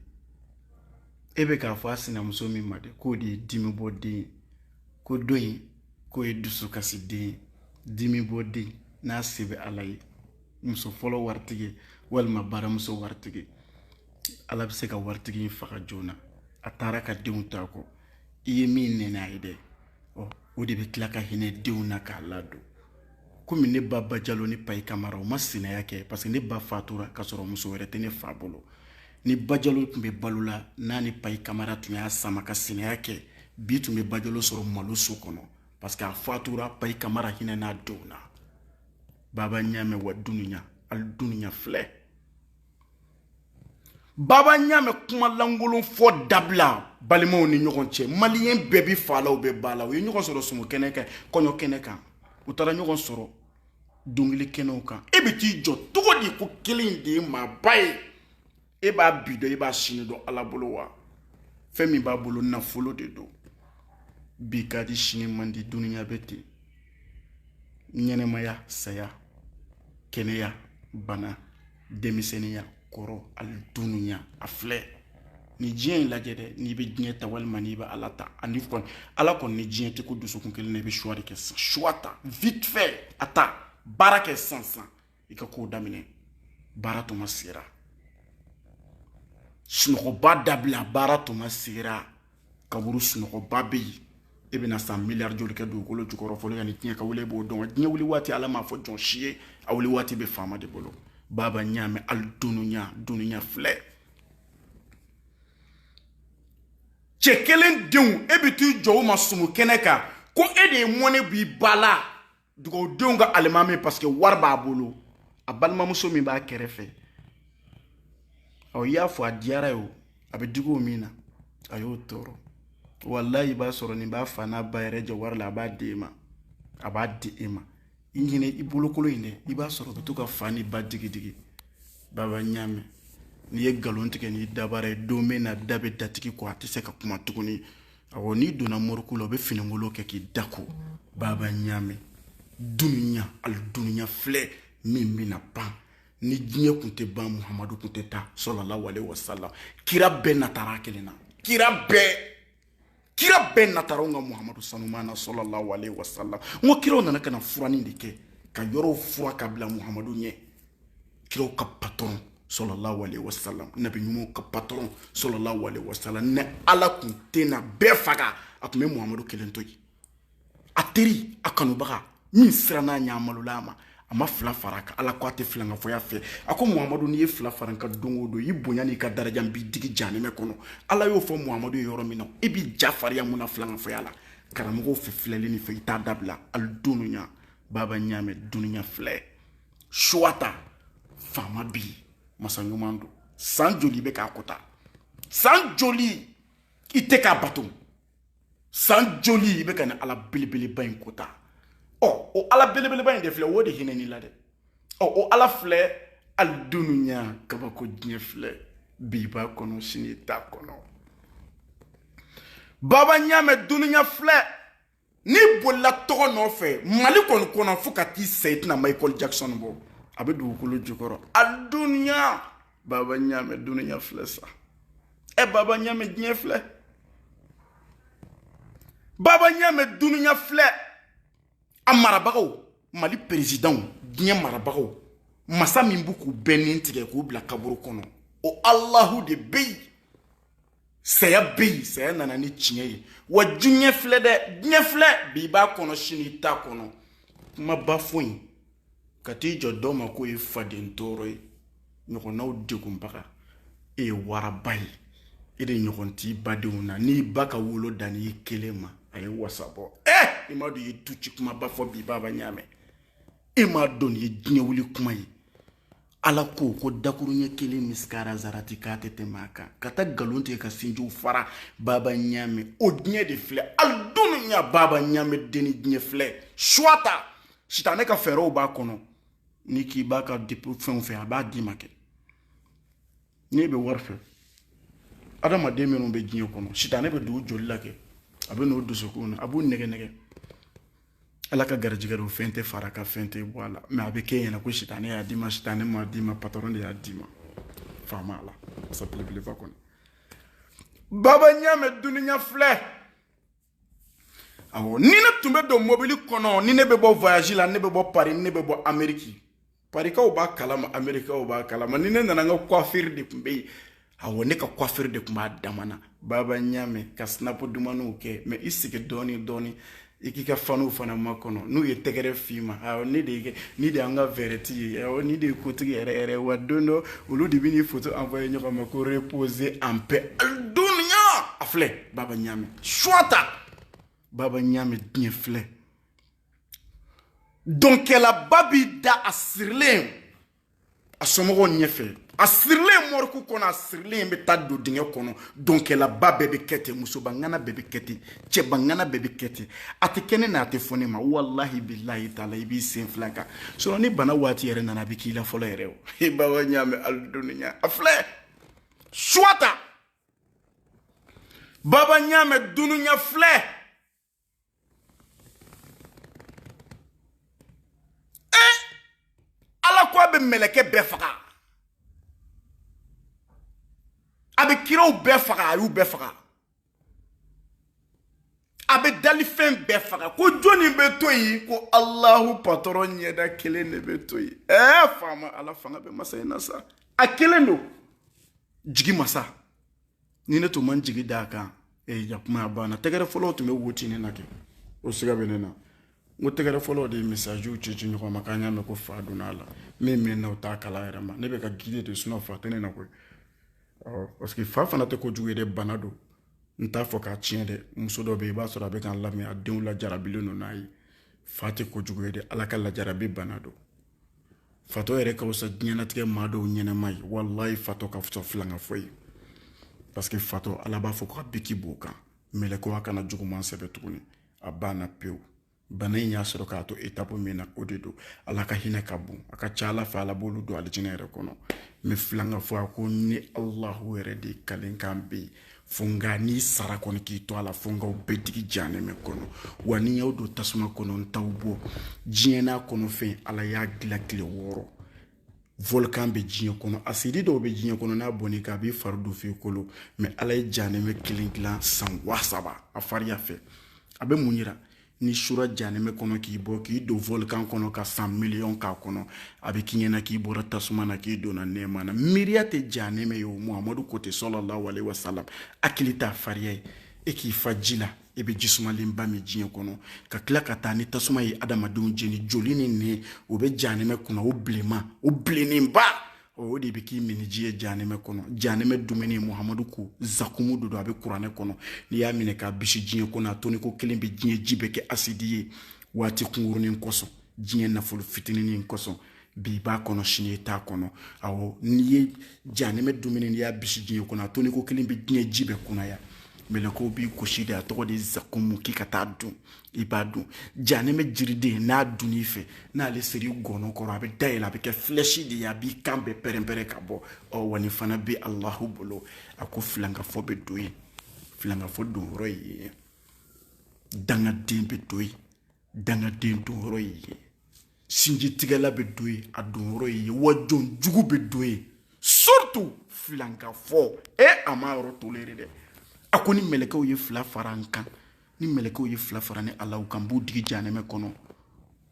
[SPEAKER 1] e bɛ k'a fɔ a sinamuso min ma de k'o de ye dimi bɔ den ye ko dɔ in k'o ye dusukasi den ye dimi bɔ den n'a se bɛ ala ye muso fɔlɔ waritigi walima baramuso waritigi ala bɛ se ka waritigi in faga joona a taara ka denw to a kɔ i ye min nɛni a ye dɛ ɔ o de bɛ tila ka hinɛ denw na k'a ladon komi ne ba bajalo ni payi kamara o ma sinaya kɛ parce que ne ba fatura k'a sɔrɔ muso wɛrɛ tɛ ne fa bolo ni bajalo tun bɛ balo la n'a ni payi kamara tun y'a sama ka sinaya kɛ bi tun bɛ bajalo sɔrɔ malo so kɔnɔ parce que a fatura payi kamara hinɛna denw na baba ɲamɛ wa dunuya ali dunuya filɛ baba ɲaamɛ kuma lankolon fɔ dabila balimaw ni ɲɔgɔn cɛ maliyɛn bɛɛ bɛ fa la u bɛ ba la u ye ɲɔgɔn sɔrɔ sumu kɛnɛ kan kɔɲɔ kɛnɛ kan u taara ɲɔgɔn sɔrɔ dɔnkili kɛnɛw kan e bɛ t'i jɔ cogo di ko kelen de ye maaba ye e b'a bi dɔn e b'a sini dɔn ala bolo wa fɛn min b'a bolo nafolo de don bi ka di sini man di dunuya bɛ ten ɲɛnɛmaya saya kɛnɛya bana denmisɛnninya kɔrɔ ali dunuya a filɛ ni diɲɛ in lajɛ dɛ n'i bɛ diɲɛ ta walima n'i bɛ ala ta ani kɔni ala kɔni ni diɲɛ tɛ kun dusukun kelen na i bɛ choix de kɛ sisan choix ta vite fait a ta baara kɛ sisan sisan i ka kow daminɛ baara tuma sera sunɔgɔba dabila baara tuma sera kaburu sunɔgɔba bɛ yen e bɛna san miliyari joli kɛ dugukolo jukɔrɔ fɔlɔ yanni diɲɛ ka wuli e b'o dɔn diɲɛ wuli waati ala m'a fɔ jɔn si ye a wuli waati bɛ faama de bolo baba ɲaamɛ ali dunuya dunuya filɛ cɛ kelen denw e bɛ t'i jɔ o ma sumu kɛnɛ kan ko e de ye mɔnɛ b'i ba la dugawudenw ka alimami parce que wari b'a bolo a balimamuso min b'a kɛrɛfɛ ɔ i y'a fɔ a diyara a ye o a bɛ digi o min na a y'o tɔɔrɔ walayi i b'a sɔrɔ nin b'a fa n'a ba yɛrɛ jɛ wari la a b'a di e ma a b'a di e ma i ɲinɛ i bolokolo in dɛ i b'a sɔrɔ ka to ka fa ni ba digidigi baba ɲaamɛ n'i ye nkalon tigɛ n'i dabara ye don min na da bɛ datigi kɔ a tɛ se ka kuma tuguni awɔ n'i donna moriku la u bɛ finikolon kɛ k'i da ko baba ɲaamɛ dunuya ali dunuya filɛ min bɛna ban ni diɲɛ tun tɛ ban muhamadu tun tɛ taa sallallahu alaihi wasallam kira bɛɛ natara kelen na kira bɛɛ kira bɛɛ natara ka muhamadu sanuman na sallallahu alaihi wasallam n ko kiraw nana ka na furanni de kɛ ka yɔrɔw furan ka bila muhamadu ɲɛ kiraw ka patɔrɔn sallallahu alaihi wasallam nabi ɲumanw ka patɔrɔn sallallahu alaihi wasallam ni ala kun tɛna bɛɛ faga a tun bɛ muhamadu kelen to yen a teri a kanubaga min siranna a ɲa malola a ma a ma fila fara a kan ala ko a tɛ filankafoya fɛ a ko muhamadu n'i ye fila fara n kan don o don i bonya n'i ka daraja n b'i digi janimɛ kɔnɔ ala y'o fɔ muhamadu ye yɔrɔ min na i b'i ja fariya mun na filankafoya la karamɔgɔw fɛ filɛli nin fɛ i t'a dabila ali dunuya baba ɲaamɛ dunuya filɛ suwa ta faama bi masa ɲuman don san joli i bɛ k'a kota san joli i tɛ k'a bato san joli i bɛ ka ni ala belebeleba in kota ɔ o ala belebeleba in de filɛ o de hinɛn'i la dɛ ɔ o ala filɛ ali dunuya kabako diɲɛ filɛ bi i b'a kɔnɔ sini i t'a kɔnɔ baba ɲaamɛ dunuya filɛ n'i bolila tɔgɔ nɔfɛ mali kɔni kɔnɔ fo ka t'i sa i tɛna michael jackson bɔ a bɛ dugukolo jukɔrɔ a duniya baba ɲaamɛ duniya filɛ sa ɛ e baba ɲaamɛ diɲɛ filɛ baba ɲaamɛ duniya filɛ a marabagaw mali perezidanw diɲɛ marabagaw masa min b'u k'u bɛɛ ni tigɛ k'u bila kaburu kɔnɔ o alahu de bɛ yen saya bɛ yen saya nana ni tiɲɛ ye wa diɲɛ filɛ dɛ diɲɛ filɛ bi i b'a kɔnɔ sini i t'a kɔnɔ kumaba fɔ i ka t'i jɔ dɔ ma k'o ye faden tɔɔrɔ ye ɲɔgɔnnaw degunbaga e ye waraba ye e de ɲɔgɔn t'i badenw na n'i ba ka wolo dann'i kelen ma a ye wasa bɔ ɛ i m'a dɔn i ye duci kumaba fɔ bi baba ɲaamɛ e m'a dɔn nin ye diɲɛ wuli kuma ye ala ko ko dakuruɲɛ kelen misikara zarati k'a tɛ tɛmɛ a kan ka taa nkalon tigɛ ka sinjiw fara baba ɲaamɛ o diɲɛ de filɛ ali dunuya baba ɲaamɛ deni diɲɛ filɛ suwa ta sitanɛ ka fɛɛrɛw b'a kɔnɔ n'i k'i b'a ka fɛnw fɛ a b'a d'i ma kɛ n'i bɛ wari fɛ adamaden minnu bɛ diɲɛ kɔnɔ sitanɛ bɛ don joli la kɛ a bɛ n'u dusukun na a b'u nɛgɛn nɛgɛn ala ka garijɛgɛ don fɛn tɛ fara a kan fɛn tɛ bɔ a la mɛ a bɛ k'i ɲɛ na ko sitanɛ y'a d'i ma sitanɛ m'a d'i ma patɔrɔn de y'a d'i ma faama ala masa belebeleba kɔni baba ɲaamɛ duniya filɛ awɔ ni ne tun bɛ don mobili kɔnɔ ni ne bɛ bɔ voyage la ne bɛ bɔ paris ni ne bɛ bɔ ameriki parikaw b'a kalama amerikikaw b'a kalama ni ne nana n ka coiffure de tun bɛ yen awɔ ne ka coiffure de tun b'a dama na baba ɲaamɛ ka snap dumanniw kɛ mɛ i sigi dɔɔnin dɔɔnin i k'i ka fanw fana makɔnɔ n'u ye tɛgɛrɛ f'i ma ne de kɛ nin de y'an ka vedette ye nin de ye kotigi yɛrɛ wa don dɔ olu de bɛ n'i foto envoyer ɲɔgɔn ma ko repose en paix duniya a filɛ baba ɲaamɛ suwata baba ɲaamɛ diɲɛ filɛ dɔnkɛlaba b'i da a sirilen a somɔgɔw ɲɛfɛ a sirilen mɔriku kɔnɔ a sirilen bɛ taa don dingɛ kɔnɔ dɔnkɛlaba bɛɛ bɛ kɛ ten musobangana bɛɛ bɛ kɛ ten cɛbangana bɛɛ bɛ kɛ ten a tɛ kɛ ne na a tɛ fɔ ne ma walahi bilahi taala i b'i sen fila kan sinon ni bana waati yɛrɛ nana a bɛ k'i la fɔlɔ yɛrɛ o baba ɲaamɛ ali dunuya a filɛ suwata baba ɲaamɛ dunuya filɛ ee ala ko a bɛ mɛlɛkɛ bɛɛ faga a bɛ kiraw bɛɛ faga a y'u bɛɛ faga a bɛ dalifɛn bɛɛ faga ko jɔnni bɛ to yen ko alahu patɔrɔn ɲɛda kelen de bɛ to yen ɛɛ faama ala fanga bɛ masa in na sa a kelen don jigi masa ni ne tun man jigi da a kan ee ja kuma a banna tɛgɛrɛfɔlaw tun bɛ woti ne na kɛ o siga bɛ ne na n ko tɛgɛrɛfɔlaw de ye message ci ɲɔgɔn ma k'an y'a mɛn ko fa donna a la min mɛ na o t'a kala yɛrɛ ma ne bɛ ka gide de sinon fa tɛ ne na koyi ɔ parce que fa fana tɛ kojugu ye dɛ bana don n t'a fɔ k'a tiɲɛ dɛ muso dɔ bɛ yen i b'a sɔrɔ a bɛ k'an lamɛn a denw lajarabilen don n'a ye fa tɛ kojugu ye dɛ ala ka lajarabi bana don fatɔ yɛrɛ ka fisa diɲɛnatigɛ maa dɔw ɲɛnɛma ye walayi fatɔ ka fisa filankafɔ ye parce que fatɔ ala b'a fɔ ko ka biki b'o kan mɛlɛkɛw a kana juguman sɛbɛ tuguni a banna pewu bana in y'a sɔrɔ k'a to etapu min na o de don ala ka hinɛ ka bon a ka ca ala fɛ ala b'olu don alijinɛ yɛrɛ kɔnɔ mɛ filankafɔ a ko ne alahu yɛrɛ de kalen kan bɛ yen fo nka n'i sara kɔni k'i to a la fo n k'aw bɛɛ digi janɛmɛ kɔnɔ wa ni n y'aw don tasuma kɔnɔ n t'aw bɔ diɲɛ n'a kɔnɔfɛn ala y'a dilan tile wɔɔrɔ volkan bɛ diɲɛ kɔnɔ asidi dɔw bɛ diɲɛ kɔnɔ n'a bɔn'i kan a b'i fari dun f'i kolo mɛ ala ye janɛmɛ kelen dilan san waa saba a fariya fɛ a bɛ mun yira n'i sura janɛmɛ kɔnɔ k'i bɔ k'i don volkan kɔnɔ ka san miliyɔn k'a kɔnɔ a bɛ k'i ɲɛna k'i bɔra tasuma na k'i donna nɛɛma na miiriya tɛ janɛmɛ ye o muhamadu ko ten sɔlɔlahu alehi wasalam hakili t'a fariya ye e k'i fa ji la e bɛ jisumalenba min diɲɛ kɔnɔ ka tila ka taa ni tasuma ye adamadenw jeni joli ni nɛn o bɛ janɛmɛ kunna o bilenma o bilennenba o de bɛ k'i minji ye janɛmɛ kɔnɔ janɛmɛ dumuni muhamadu ko zakumu de don a bɛ kuranɛ kɔnɔ n'i y'a minɛ k'a bisi diɲɛ kɔnɔ a toni ko kelen bɛ diɲɛ ji bɛɛ kɛ asidi ye waati kunkurunin kosɔn diɲɛ nafolo fitininin kosɔn bi b'a kɔnɔ sini i t'a kɔnɔ awɔ n'i ye janɛmɛ dumuni n'i y'a bisi diɲɛ kɔnɔ a toni ko kelen bɛ diɲɛ ji bɛɛ kunaya mɛlɛkɛw b'i gosi de a tɔgɔ de zakumu k'i ka taa dun i b'a dun janɛmɛ jiriden n'a dun i fɛ n'ale ser'i gɔnɔ kɔrɔ a bɛ dayɛlɛ a bɛ kɛ filɛsi de ye a b'i kan bɛɛ pɛrɛnpɛrɛn ka bɔ ɔ wa nin fana bɛ alahu bolo a ko filankafɔ bɛ don yen filankafɔ don yɔrɔ ye yen dangaden bɛ don yen dangaden don yɔrɔ ye yen sinjitigɛla bɛ don yen a don yɔrɔ ye yen wa jɔn jugu bɛ don yen surtout filankafɔ e eh, a ma yɔrɔ tolere dɛ a ko ni mɛlɛkɛw ye fila fara n kan ni mɛlɛkɛw ye fila fara ne ala kan b'u digi janɛmɛ kɔnɔ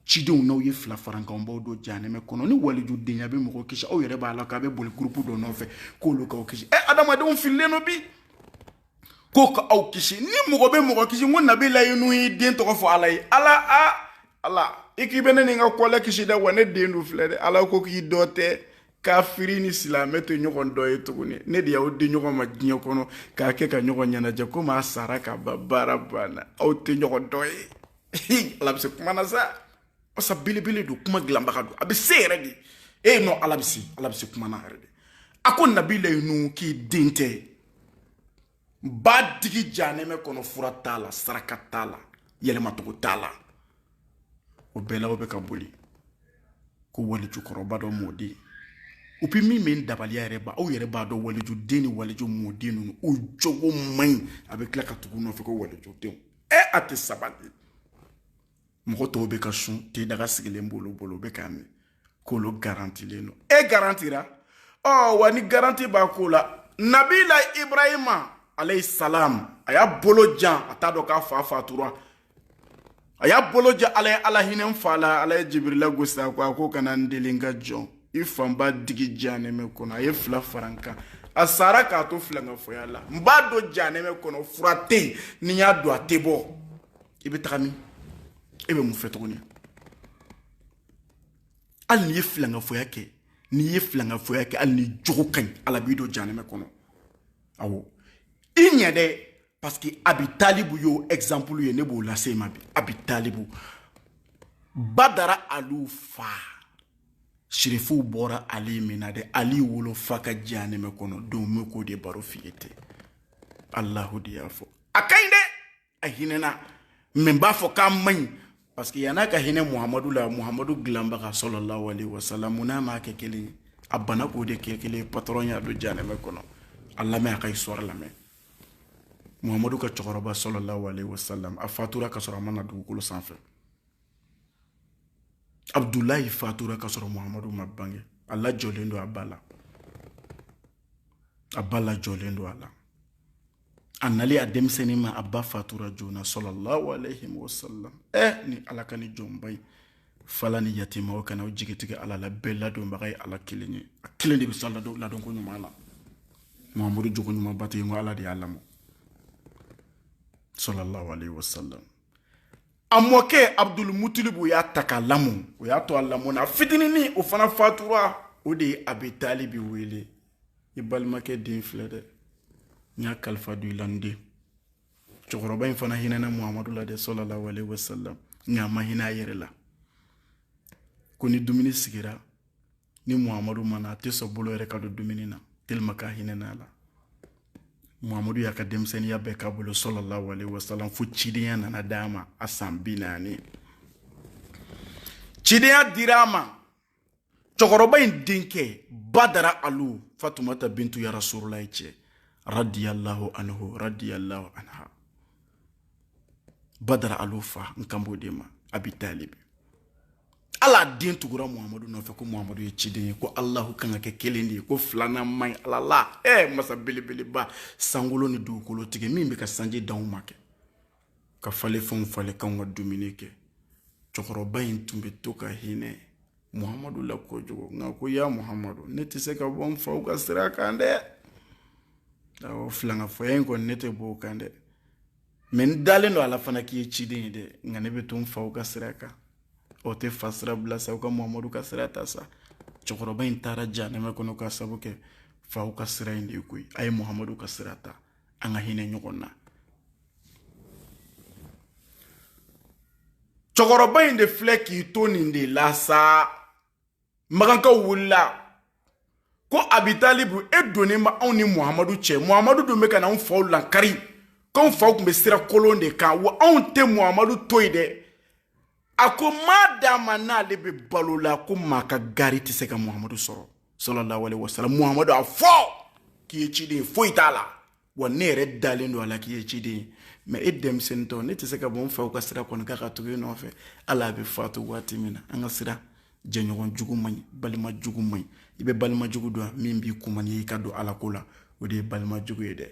[SPEAKER 1] cidenw n'aw ye fila fara n kan n b'aw don janɛmɛ kɔnɔ ni walijudenya bɛ mɔgɔ kisi aw yɛrɛ b'a la k'a bɛ boli gurupu dɔ nɔfɛ k'olu k'aw kisi ɛ eh, adamadenw fililen don bi ko ka aw kisi ni mɔgɔ bɛ mɔgɔ kisi ko nabilayi nuhu y'i den tɔgɔ fɔ ala ye ala a ala i k'i bɛ ne ni n ka kɔlɛ kisi dɛ wa ne den dun filɛ dɛ ala ko k'i dɔ tɛ kafiri ni silamɛ tɛ ɲɔgɔn dɔ ye tuguni ne de y'aw di ɲɔgɔn ma diɲɛ kɔnɔ k'a kɛ ka ɲɔgɔn ɲɛnajɛ komi a sara ka ban baara banna aw tɛ ɲɔgɔn dɔ ye ala bɛ se kuma na sa masa belebele don kuma dilanbaga don a bɛ se yɛrɛ de e non ala bɛ se ala bɛ se kuma na yɛrɛ de a ko nabilayi nuhu k'i den tɛ b'a digi janɛmɛ kɔnɔ fura t'a la saraka t'a la yɛlɛmacogo t'a la o bɛɛ la aw bɛ ka boli ko walijukɔrɔba dɔ mɔden u bɛ min min dabaliya yɛrɛ ba aw yɛrɛ b'a dɔn walijuden ni waliju mɔden ninnu u jogo man ɲi a bɛ tila ka tugu nɔfɛ ko walijudenw ɛ a tɛ sabali mɔgɔ tɔw bɛ ka sun te daga sigilen b'olu bolo u bɛ k'a min k'olu garantilen don e garantira ɔ oh, wa ni garanti b'a ko la nabila ibrahima alayhi salam a y'a bolo jan a t'a dɔn k'a fa fatura a y'a bolo jan ala ye ala hinɛ n fa la ala ye jibirila gosi a ko a ko kana n deli n ka jɔn i fa n b'a digi janɛmɛ kɔnɔ a ye fila fara n kan a sara k'a to filankafoya la n b'a don janɛmɛ kɔnɔ fura tɛ yen ni n y'a don a tɛ bɔ i bɛ taga min e bɛ mun fɛ tuguni hali n'i ye filankafoya kɛ n'i ye filankafoya kɛ hali n'i jogo ka ɲi ala b'i don janɛmɛ kɔnɔ awɔ i ɲɛ dɛ parce que abi talibu y'o exemple ye ne b'o lase i ma bi abi talibu badara aliw fa sirifuw bɔra ali min na dɛ ali wolofa ka janɛmɛ kɔnɔ don n bɛ k'o de baro f'i ye ten alahu de y'a fɔ a ka ɲi dɛ a hinɛna mais n b'a fɔ k'a man ɲi parce que yan'a ka hinɛ muhamadu la muhamadu dilanbaga sɔlɔlahu alaihi wasalam mun n'a m'a kɛ kelen ye a bana k'o de kɛ kelen ye patron y'a don janɛmɛ kɔnɔ a lamɛn a ka histoire lamɛn muhamadu ka cɛkɔrɔba sɔlɔlahu alaihi wasalam a fatura ka sɔrɔ a ma na dugukolo sanfɛ abdulayi fatura ka sɔrɔ muhamadu ma bange a lajɔlen don a ba la a ba lajɔlen don a la a nali a denmisɛnninma a ba fatura joona sɔlɔlahu alayhi wa sallam ɛ eh, ni ala ka ni jɔnba ye fala ni yatimaw kana u jigi tigɛ ala la bɛɛ ladonbaga ye ala kelen ye a kelen de bɛ s'a ladon ladonko ɲuman na muhamadu jogo ɲuman bato ye ko ala de y'a lamɔ sɔlɔlahu alayhi wa sallam a mɔkɛ abudul mutilibu y'a ta k'a lamɔ o y'a to a lamɔ na fitininin o fana fatura o de ye abi talibi wele i balimakɛ den filɛ dɛ n y'a kalifa don i la n den cɛkɔrɔba in fana hinɛna muhamadu la dɛ sɔlɔlahu alehi wasalam nka a ma hinɛ a yɛrɛ la ko ni dumuni sigira ni muhamadu ma na a tɛ sɔn bolo yɛrɛ ka don dumuni na tellement k'a hinɛna a la muhamadu y'a ka denmisɛnniya bɛɛ k'a bolo sallallahu alaihi wasallam fo cidenya nana d'a ma a san bi naani cidenya dira a ma cɛkɔrɔba in denkɛ badara alu fatumata bintu ya rasulullahi cɛ radiyallahu anhu radiyallahu anha badara alu fa n kan b'o de ma abi talibi ale den tugura muhamadu nɔfɛ ko muhamadu ye ciden ye ko alahu kan ka kɛ kelen de ye ko filanan man ɲi ala la ɛ eh, masa belebeleba sankolo ni dugukolo tigi min bɛ ka sanji d'anw ma kɛ ka falenfɛnw falen k'anw ka dumuni kɛ cɛkɔrɔba in tun bɛ to ka hinɛ muhamadu la kojugu nka ko ya muhamadu ne tɛ se ka bɔ n faw ka sira kan dɛ awɔ filankafoya in kɔni ne tɛ bɔ o kan dɛ mais n dalen don a la fana k'i ye ciden ye dɛ nka ne bɛ to n faw ka sira kan o tɛ fa sira bila sa u ka muhamadu ka sira ta sa cɛkɔrɔba in taara janɛmɛ kɔnɔ ka sabu kɛ faw ka sira in de koyi a ye muhamadu ka sira ta an ka hinɛ ɲɔgɔn na cɛkɔrɔba in de filɛ k'i to nin de la sa makankaw wulila ko abi talibu e donnen b'anw ni muhamadu cɛ muhamadu dun bɛ ka na anw faw lankari k'anw faw tun bɛ sira kolon de kan wa anw tɛ muhamadu to yen dɛ a ko ma dama n'ale bɛ balo la ko maa ka gari tɛ se ka muhamadu sɔrɔ sallallahu alaihi wasallam muhamadu a fɔ k'i ye ciden ye foyi t'a la wa ne yɛrɛ dalen don a la k'i ye ciden ye mais e denmisɛnnintɔ ne tɛ se ka bɔ n faw ka sira kɔni kan ka tugu e nɔfɛ hali a bɛ fatu waati min na an ka siran jɛɲɔgɔn jugu man ɲi balima jugu man ɲi i bɛ balima jugu dɔn min b'i kuma n'i y'i ka don ala ko la o de ye balima jugu ye dɛ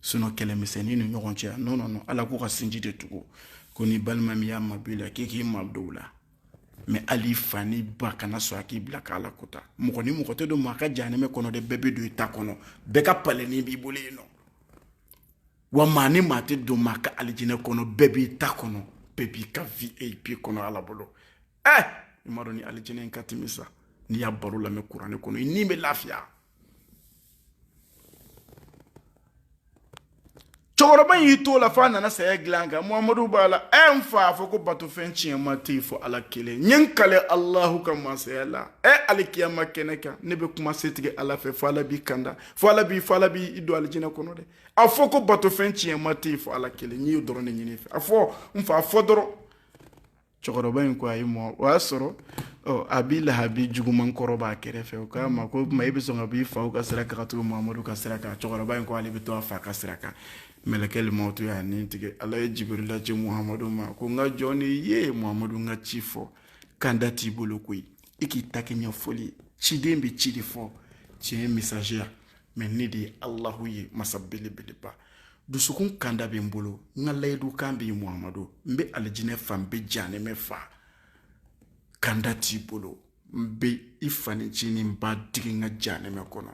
[SPEAKER 1] sinon kɛlɛmisɛnnin ni ɲɔgɔn cɛ non non ala k'u ka sinji de tugu ko ni balima min y'a mabɔ i la k'i k'i mabɔ o la mais hali i fa n'i ba kana sɔn a k'i bila k'ala kuta mɔgɔ ni mɔgɔ tɛ don maa ka janɛmɛ kɔnɔ dɛ bɛɛ bɛ don i ta kɔnɔ bɛɛ ka palɛnin b'i bolo yen nɔ wa maa ni maa tɛ don maa ka alijinɛ kɔnɔ bɛɛ b'i ta kɔnɔ bɛɛ b'i ka vip kɔnɔ ala bolo ɛ i m'a dɔn ni alijinɛ in ka timi sa n'i y'a baro lamɛn kuranɛ kɔnɔ i ni bɛ lafiya cɛkɔrɔba y'i to la fo a nana saya dilan kan muhamadu b'a la ɛ n fa a fɔ ko batofɛn tiɲɛma tɛ yen fo ala kelen n ye n kali alahu ka masaya la ɛ alikiyama kɛnɛ kan ne bɛ kuma setigi ala fɛ fo ala b'i kanda fo ala b'i fo ala b'i don alijinɛ kɔnɔ dɛ a fɔ ko batofɛn tiɲɛma tɛ yen fo ala kelen n y'o dɔrɔn de ɲini i fɛ a fɔ n fa a fɔ dɔrɔn cɛkɔrɔba in ko ayi mɔ o y'a sɔrɔ abi lahabi juguman kɔrɔ b'a kɛrɛfɛ o k'a ma ko tuma e bɛ sɔn ka b'i faw ka sira kan ka tugu muhamadu ka sira kan cɛkɔrɔba in ko ale bɛ to a fa ka sira kan mɛlɛkɛ limɔtu y'a ni tigɛ ala ye jibirila ci muhamadu ma ko n ka jɔn ni ye muhamadu n ka ci fɔ kanda t'i bolo koyi i k'i ta kɛ ɲɛfɔli ciden bɛ ci de fɔ tiɲɛ messager mais ne de ye alahu ye masa belebeleba dusukun kanda bɛ n bolo n ka layidu kan bɛ yen muhamadu n bɛ alijinɛ fa n bɛ janɛmɛ fa kanda t'i bolo n bɛ i fanin ncinin n b'a digi n ka janɛmɛ kɔnɔ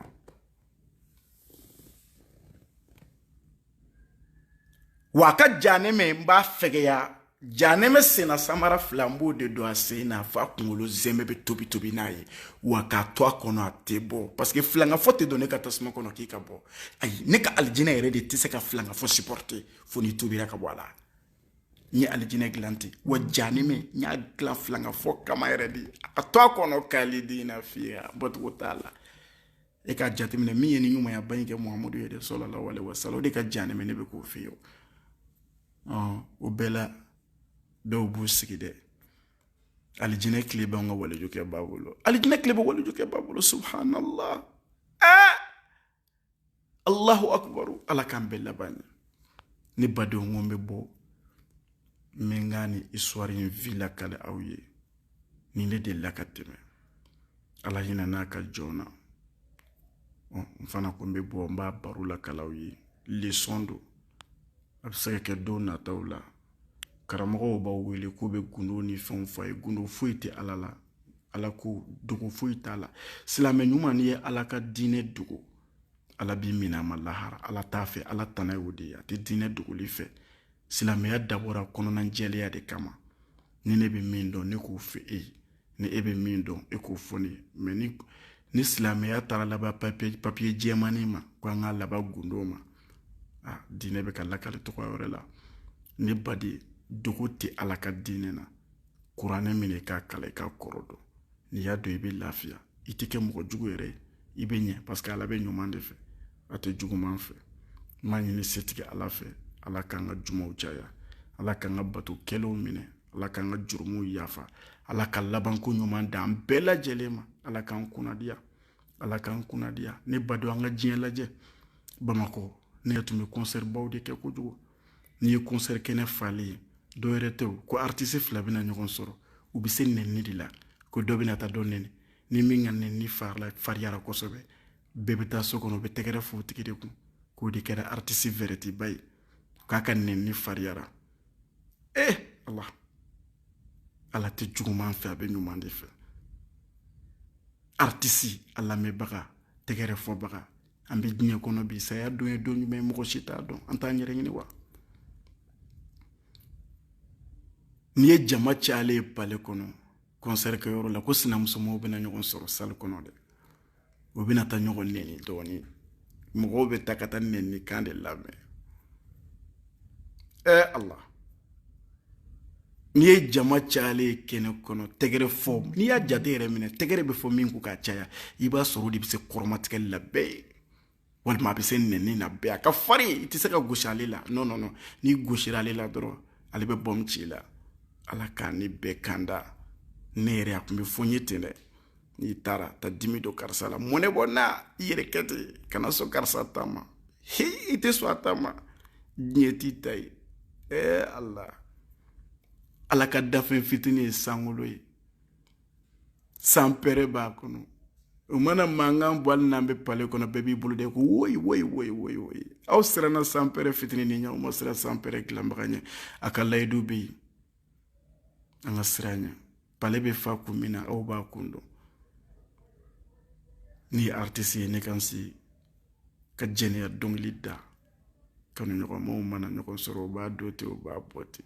[SPEAKER 1] wa a ka janɛmɛ n b'a fɛgɛya janɛmɛ senna samara fila n b'o de don a sen na f'a kunkolo zɛmɛ bɛ tobi tobi n'a ye wa k'a to a kɔnɔ a tɛ bɔ parce que filangafɔ tɛ don ne ka tasuma kɔnɔ k'i ka bɔ ayi ne ka alijinɛ yɛrɛ de tɛ se ka filangafɔ supporter fo n'i tubira ka bɔ a la n ye alijinɛ dilan ten wa janɛmɛ n y'a dilan filangafɔ kama yɛrɛ de a to a kɔnɔ kalidina fiha bɔcogo t'a la e k'a jateminɛ min ye ni ɲumanyaba in kɛ muhamadu ye dɛ sallallahu alayhi wa sallam o de ka janɛmɛ ka fɛgɛn o bɛɛ la dɔw b'u sigi dɛ alijinɛ kile b'an ka walijukɛba bolo alijinɛ kile bɛ walijukɛba bolo subhanallah ɛɛ allahu akubaru ala k'an bɛɛ laban ɲɛ ne badenw ko n bɛ bɔ n bɛ n ka ni histoire in vi lakale aw ye nin de delila ka tɛmɛ ala hinɛ n'a ka jɔn na n fana ko n bɛ bɔ n b'a baro lakale aw ye lesɔn don a bɛ se ka kɛ don nataw la karamɔgɔw b'aw wele k'u bɛ gundo ni fɛnw fɔ a ye gundo foyi tɛ ala la ala ko dogo foyi t'a la silamɛ ɲuman n'i ye ala ka diinɛ dogo ala b'i minɛ a ma lahara ala t'a fɛ ala tana y'o de ye a tɛ diinɛ dogoli fɛ silamɛya dabɔra kɔnɔnajɛlenya de kama ni ne bɛ min dɔn ne k'o fɔ e ye ni e bɛ min dɔn e k'o fɔ ne ye mais ni silamɛya taara laban papiye jɛmani ma ko an ka laban gundo ma a diinɛ bɛ ka lakali tɔgɔ wɛrɛ la ne baden dogo tɛ ala ka diinɛ na kuranɛ minɛ k'a kalan i k'a kɔrɔ dɔn n'i y'a dɔn i bɛ lafiya i tɛ kɛ mɔgɔ jugu yɛrɛ ye i bɛ ɲɛ parce que ala bɛ ɲuman de fɛ a tɛ juguman fɛ n b'a ɲini setigi ala fɛ ala k'an ka jumaw caya ala k'an ka bato kɛlenw minɛ ala k'an ka jurumuw yafa ala ka labanko ɲuman d'an bɛɛ lajɛlen ma ala k'an kunnadiya ala k'an kunnadiya ne baden an ka diɲɛ lajɛ bamakɔ ne tun bɛ kɔnsɛri baw de kɛ kojugu n'i ye kɔnsɛri kɛnɛ falen ye dɔ wɛrɛ tɛ ko aritisi fila bɛna ɲɔgɔn sɔrɔ u bɛ se nɛni de la ko dɔ bɛna taa dɔ nɛni ni min ka nɛni fariyara kosɛbɛ bɛɛ bɛ taa so kɔnɔ bɛ tɛgɛrɛ fɔ o tigi de kun k'o de kɛra aritisi vɛrɛtiba ye k'a ka nɛni fariyara e ala ala tɛ juguman fɛ a bɛ ɲuman de fɛ aritisi a lamɛnbaga tɛgɛrɛ fɔbaga an bɛ diɲɛ kɔnɔ bi saya don ye don jumɛn mɔgɔ si t'a dɔn an t'an yɛrɛ ɲini wa n'i ye jama cayalen ye pale kɔnɔ kɔnsɛri kɛyɔrɔ la ko sinamusomaw bɛna ɲɔgɔn sɔrɔ sali kɔnɔ dɛ u bɛna taa ɲɔgɔn nɛni dɔɔnin mɔgɔw bɛ taa ka taa nɛni kan de lamɛn ɛ ala n'i ye jama cayalen ye kɛnɛ kɔnɔ tɛgɛrɛ fɔ n'i y'a jate yɛrɛ minɛ tɛgɛrɛ bɛ fɔ min ko k'a caya i b'a sɔrɔ o de bɛ se kɔrɔmatigɛli la bɛɛ ye walima a bɛ se nɛni na bɛɛ a ka farin i tɛ se ka gosi ale la non non non n'i gosira ale la dɔrɔn ale bɛ bɔmu ci i la ala k'an ni bɛɛ kanda ne yɛrɛ a tun bɛ fɔ n ye ten dɛ n'i taara taa dimi don karisa la mɔnɛ bɔ na i yɛrɛ kɛ ten kana sɔn karisa ta ma hi i tɛ sɔn a ta ma diɲɛ t'i ta ye ɛɛ ala ala ka danfɛn fitinin ye sankolo ye sanpɛrɛ b'a kɔnɔ o mana mankan bɔ hali n'an bɛ pale kɔnɔ bɛɛ b'i bolo de ko woyi woyi woyi woyi woyi aw siranna sanpɛrɛ fitinin nin ɲɛ aw ma siran sanpɛrɛ dilanbaga ɲɛ a ka layidu bɛ yen an ka siran a ɲɛ pale bɛ fa kun min na aw b'a kun dɔn ne ye aritisi ye ne kan se ka jɛnɛya dɔnkili da kanuɲɔgɔnmaw mana ɲɔgɔn sɔrɔ u b'a don ten u b'a bɔ ten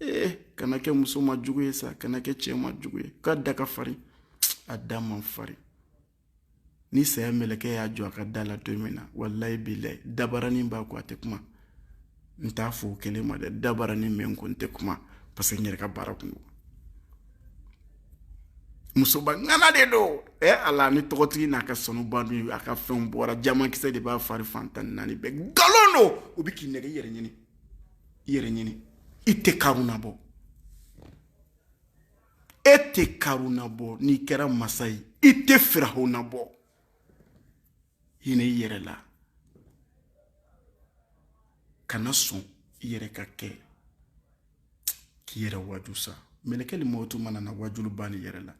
[SPEAKER 1] ee eh, kana kɛ muso ma jugu ye sa kana kɛ cɛ ma jugu ye k'a da ka farin a da man farin ni saya mɛlɛkɛ y'a jɔ a ka da la don min na walayi bilayi dabaranin b'a ko a tɛ kuma n t'a fɔ o kelen ma dɛ dabaranin bɛ n ko n tɛ kuma parce que n yɛrɛ ka baara kun don musoba ŋana de don ɛ eh, ala ni tɔgɔtigi n'a ka sanuba dun a ka fɛnw bɔra jamankisɛ de b'a fari fan tan ni naani bɛɛ nkalon don u bɛ k'i nɛgɛ i yɛrɛ ɲini i yɛrɛ ɲini i tɛ karuna bɔ e tɛ karuna bɔ n'i kɛra masa ye i tɛ firahuna bɔ hinɛ i yɛrɛ la kana sɔn i yɛrɛ ka kɛ k'i yɛrɛ waju sa mɛlɛkɛli mawutu mana na wajuli banna i yɛrɛ la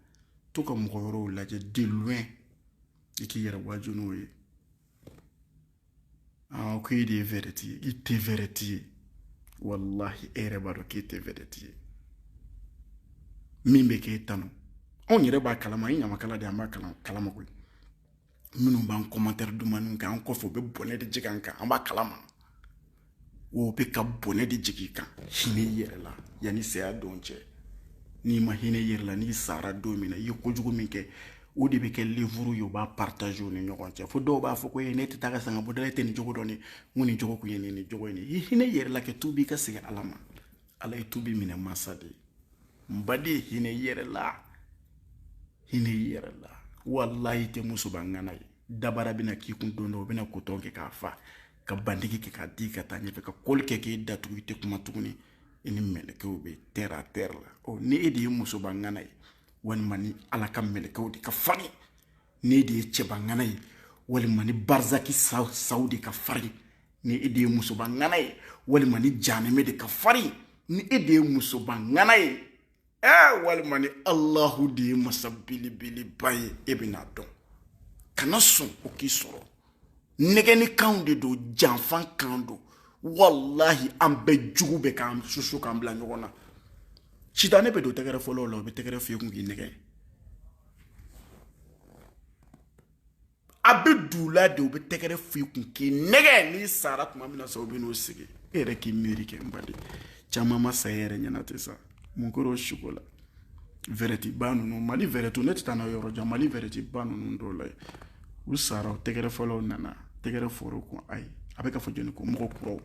[SPEAKER 1] to ka mɔgɔ wɛrɛw lajɛ de loin i k'i yɛrɛ waju n'o ye aa ko e de ye vɛrɛti ye i tɛ vɛrɛti ye walahi e yɛrɛ b'a dɔn k'e tɛ vɛrɛti ye min bɛ k'e tanu anw yɛrɛ b'a kalama ye ɲamakala de an b'a kalama koyi minnu b'an kɔmantɛri duman kɛ an kɔfɛ u bɛ bɔnɛ de jigin an kan an b'a kalama o bɛ ka bɔnɛ de jigin i kan hinɛ i yɛrɛ la yanni saya don cɛ n'i ma hinɛ i yɛrɛ la n'i sara don min na i ye kojugu min kɛ o de bɛ kɛ livre ye u b'a partager u ni ɲɔgɔn cɛ fo dɔw b'a fɔ ko ne tɛ taa ka sanga bɔda la e tɛ nin jogo dɔn ne n ko nin jogo kun ye nin nin jogo ye nin i hinɛ i yɛrɛ la kɛ tubi ka segin ala ma ala ye tubi minɛ mansa de ye n baden hinɛ i yɛrɛ la hinɛ i yɛrɛ la walayi tɛ musoba ŋana ye dabara bɛna k'i kun don dɔ o bɛna kotɔn kɛ k'a fa ka bandigi kɛ k'a di ka taa ɲɛfɛ ka kɔli kɛ k'e datugu i tɛ kuma tuguni i ni mɛlɛkɛw bɛ terre à terre la ɔ ni e de ye musoba ŋana ye walima ni ala ka mɛlɛkɛw de ka farin ni e de ye cɛba ŋana ye walima ni barzaki saw de ka farin ni e de ye musoba ŋana ye walima ni janɛmɛ de ka farin ni e de ye musoba ŋana ye ɛɛ walima ni alahu de ye masa belebeleba ye e bɛn'a dɔn kana sɔn o k'i sɔrɔ nɛgɛnnikanw de don janfan kan don walahi an bɛɛ jugu bɛ k'an susu k'an bila ɲɔgɔn na sitanɛ bɛ don tɛgɛrɛfɔlaw la o bɛ tɛgɛrɛ f'i kun k'i nɛgɛn a bɛ don u la de u bɛ tɛgɛrɛ fɔ i kun k'i nɛgɛn n'i sara tuma min na sa u bɛ n'u sigi e yɛrɛ k'i miiri kɛ n baden caman ma sa e yɛrɛ ɲɛna ten sa mun kɛra o suko la vɛdɛtiba ninnu mali vɛdɛtiw ne tɛ taa n'a yɔrɔ jan mali vɛdɛtiba ninnu dɔw la u sara o tɛgɛrɛfɔlaw nana tɛgɛrɛ fɔ u kun ayi a bɛ ka fɔ jɔnni kun mɔgɔ kuraw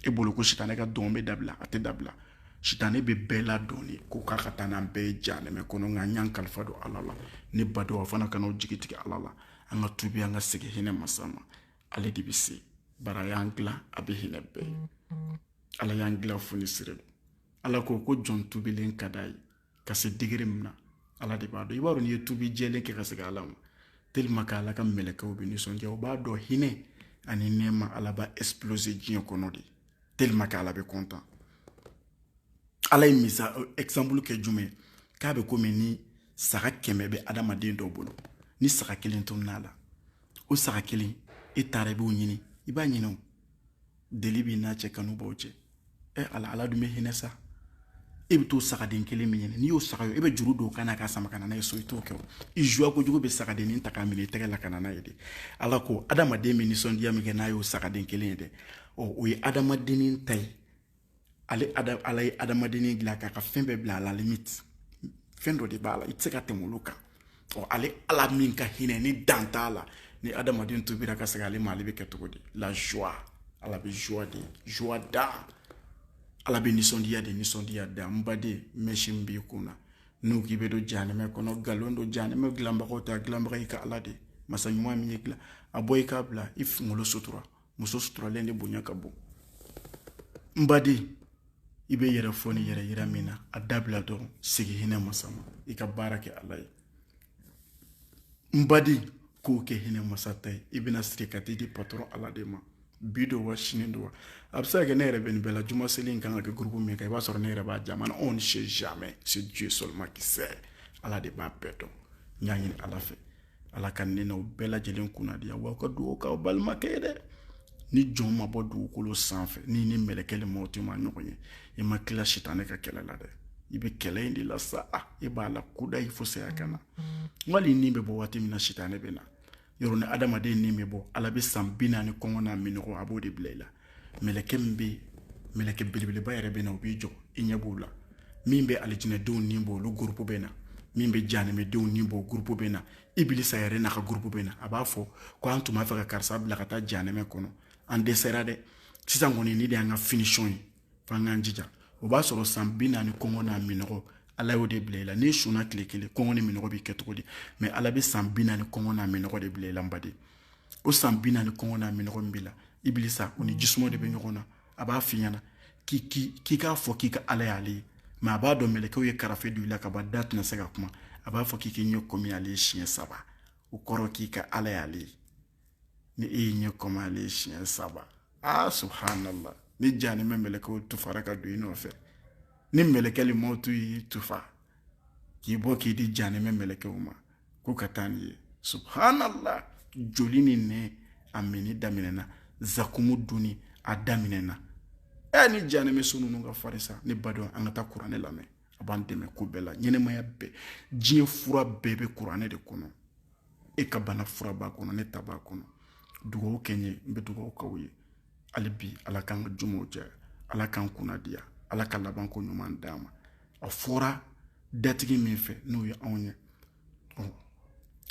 [SPEAKER 1] e bolo ko sitanɛ ka dɔn bɛ dabila a tɛ dabila sitanɛ bɛ bɛɛ ladɔn de ko k'a ka taa n'an bɛɛ ye janɛmɛ kɔnɔ nka n y'an kalifa don ala la ne badenw a fana kana aw jigi tigɛ ala la an ka tubi an ka segin hinɛ masa ma ale de bɛ se bari a y'an dilan a bɛ hinɛ bɛɛ ye ala y'an dilan fonisire don ala ko ko jɔn tubilen ka d'a ye ka se degré min na ala de b'a dɔn i b'a dɔn n'i ye tubi jɛlen kɛ ka segin ala ma tellement que ala ka mɛlɛkɛw bɛ nisɔndiya o b'a dɔn hinɛ ani nɛɛma ala b'a exploser diɲɛ kɔnɔ de tellement que ala bɛ content ala ye misa euh, exemple kɛ jumɛn k'a bɛ komi ni saga kɛmɛ bɛ adamaden dɔ bolo ni saga kelen tununa a la o saga kelen e taara i b'o ɲini i b'a ɲini o deli b'i n'a cɛ kanu b'aw cɛ ɛ ala ala dun bɛ hinɛ sa e bɛ t'o sagaden kelen min ɲini n'i y'o saga ye e bɛ juru don o kan na k'a sama ka na n'a ye so i t'o kɛ o i joie kojugu bɛ sagadennin ta k'a minɛ i tɛgɛ la ka na n'a ye de ala ko adamaden bɛ nisɔndiya min kɛ n'a y'o sagaden kelen ye dɛ ɔ o ye adamadennin ta ye ale ala ye adamadennin dilan k'a ka fɛn bɛɛ bila à la limite fɛn dɔ de b'a la i tɛ se ka tɛmɛ olu kan ɔ ale ala min ka hinɛ ni dan t'a la ni adamaden tubira ka segin ale ma ale bɛ kɛ cogo di la joie ala bɛ joie de joie da ala bɛ nisɔndiya de nisɔndiya da n baden mɛsi min b'i kun na n'u k'i bɛ don janɛmɛ kɔnɔ nkalon don janɛmɛ dilanbagaw ta dilanbaga y'i ka ala de masa ɲuman min ye dilan a bɔ i k'a bila i kunkolo sutura muso suturalen de bonya ka bon n baden i bɛ yɛrɛ fɔ ni yɛrɛ yira min na a dabila dɔrɔn segin hinɛ masa ma i ka baara kɛ ala ye n baden k'o kɛ hinɛ masa ta ye i bɛna siri ka t'i di patɔrɔn ala de ma bi don wa sini don wa a bɛ se ka kɛ ne yɛrɛ bɛ nin bɛɛ la juma seli in kan ka kɛ gurupu min kan i b'a sɔrɔ ne yɛrɛ b'a jama na on ne sait jamais c'est Dieu seulement qui sait ala de b'a bɛɛ dɔn n y'a ɲini ala fɛ ala ka ne n'aw bɛɛ lajɛlen kunnadiya aw ka dugawu k'aw balimakɛ ye dɛ ni jɔn ma bɔ dugukolo sanfɛ n'i ni mɛlɛkɛ limɔtu ma ɲɔgɔn ye i ma kila sitanɛ ka kɛlɛ la dɛ i bɛ kɛlɛ in de la sa a i b'a la kudayi fo saya ka na wali ni bɛ bɔ waati min na sitanɛ bɛ na yɔrɔ ni adamaden ni bɛ bɔ ala bɛ san bi naani kɔngɔ n'a minɔgɔ a b'o de bila i la mɛlɛkɛ min bɛ mɛlɛkɛ belebeleba yɛrɛ bɛ na o b'i jɔ i ɲɛ b'o la min bɛ alijinɛdenw ni bɔ olu gurupu bɛ na min bɛ janɛmɛdenw ni bɔ gurupu bɛ na ibilisa yɛrɛ n'a ka gurupu bɛ na a b'a fɔ ko an tun b'a fɛ ka karisa bila ka taa janɛmɛ kɔnɔ an dɛsɛra dɛ sisan kɔni nin de y'an ka finisiyɔn ye fo an k'an jija o b'a sɔrɔ san bi naani kɔngɔ n'a minɔgɔ ala y'o de bila i la n'i sunna tile kelen kɔngɔ ni minɔgɔ b'i kɛ cogo di mɛ ala bɛ san bi naani kɔngɔ n'a minɔgɔ de bila i la n baden o san bi naani kɔngɔ n'a minɔgɔ min b'i la ibilisa o ni jisuma de bɛ ɲɔgɔn na a b'a f'i ɲɛna k'i k'a fɔ k'i ka ala y'ale ye mɛ a b'a dɔn mɛlɛkɛw ye karafe don i la ka ban da tɛna se ka kuma a b'a fɔ k'i k'i ɲɛ kɔmi ale ye siɲɛ saba o kɔrɔ k'i ka ala y'ale ye ni e y'i ɲɛ kɔmi ale ye siɲɛ saba aa subhanallah ni janɛmɛ mɛlɛkɛw tufara ka don i nɔfɛ ni mɛlɛkɛ limɔtu y'i tufa k'i bɔ k'i di janɛmɛ mɛlɛkɛw ma ko ka taa n'i ye subhanallah joli ni nɛ a minni daminɛna zakumu dunni a daminɛna ɛ ni janɛmɛ so ninnu ka farin sa ne badenw an ka taa kuranɛ lamɛn a b'an dɛmɛ ko bɛɛ la ɲɛnɛmaya bɛɛ diɲɛ fura bɛɛ bɛ kuranɛ de kɔnɔ e ka bana fura b'a kɔnɔ ne ta b'a kɔnɔ dugawu kɛ n ye n bɛ dugawu k'aw ye hali bi ala k'an ka jumaw caya ala k'an kunnadiya ala ka laban ko ɲuman d'an ma a fɔra datigi min fɛ n'o ye anw ye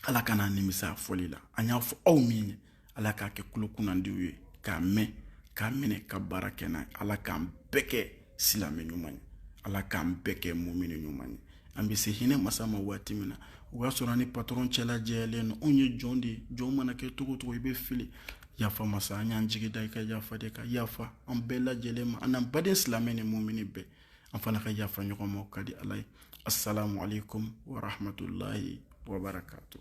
[SPEAKER 1] ala kan'an nimisa a fɔli la an y'a fɔ aw min ye ala k'a kɛ kulo kunnandiw ye k'a mɛn k'a minɛ ka baara kɛ n'a ye ala k'an bɛɛ kɛ silamɛ ɲuman ye ala k'an bɛɛ kɛ mumini ɲuman ye an bɛ se hinɛ masa ma waati min na o y'a sɔrɔ an ni patɔrɔn cɛla jɛyalen don anw ye jɔn de ye jɔn mana kɛ cogo o cogo i bɛ fili yafa masa an y'an jigi da i ka yafa de kan yafa an bɛɛ lajɛlen ma an n'an baden silamɛ ni mumini bɛɛ an fana ka yafa ɲɔgɔn ma o ka di ala ye assalamu alaikum warahmatullahi wabarakatuh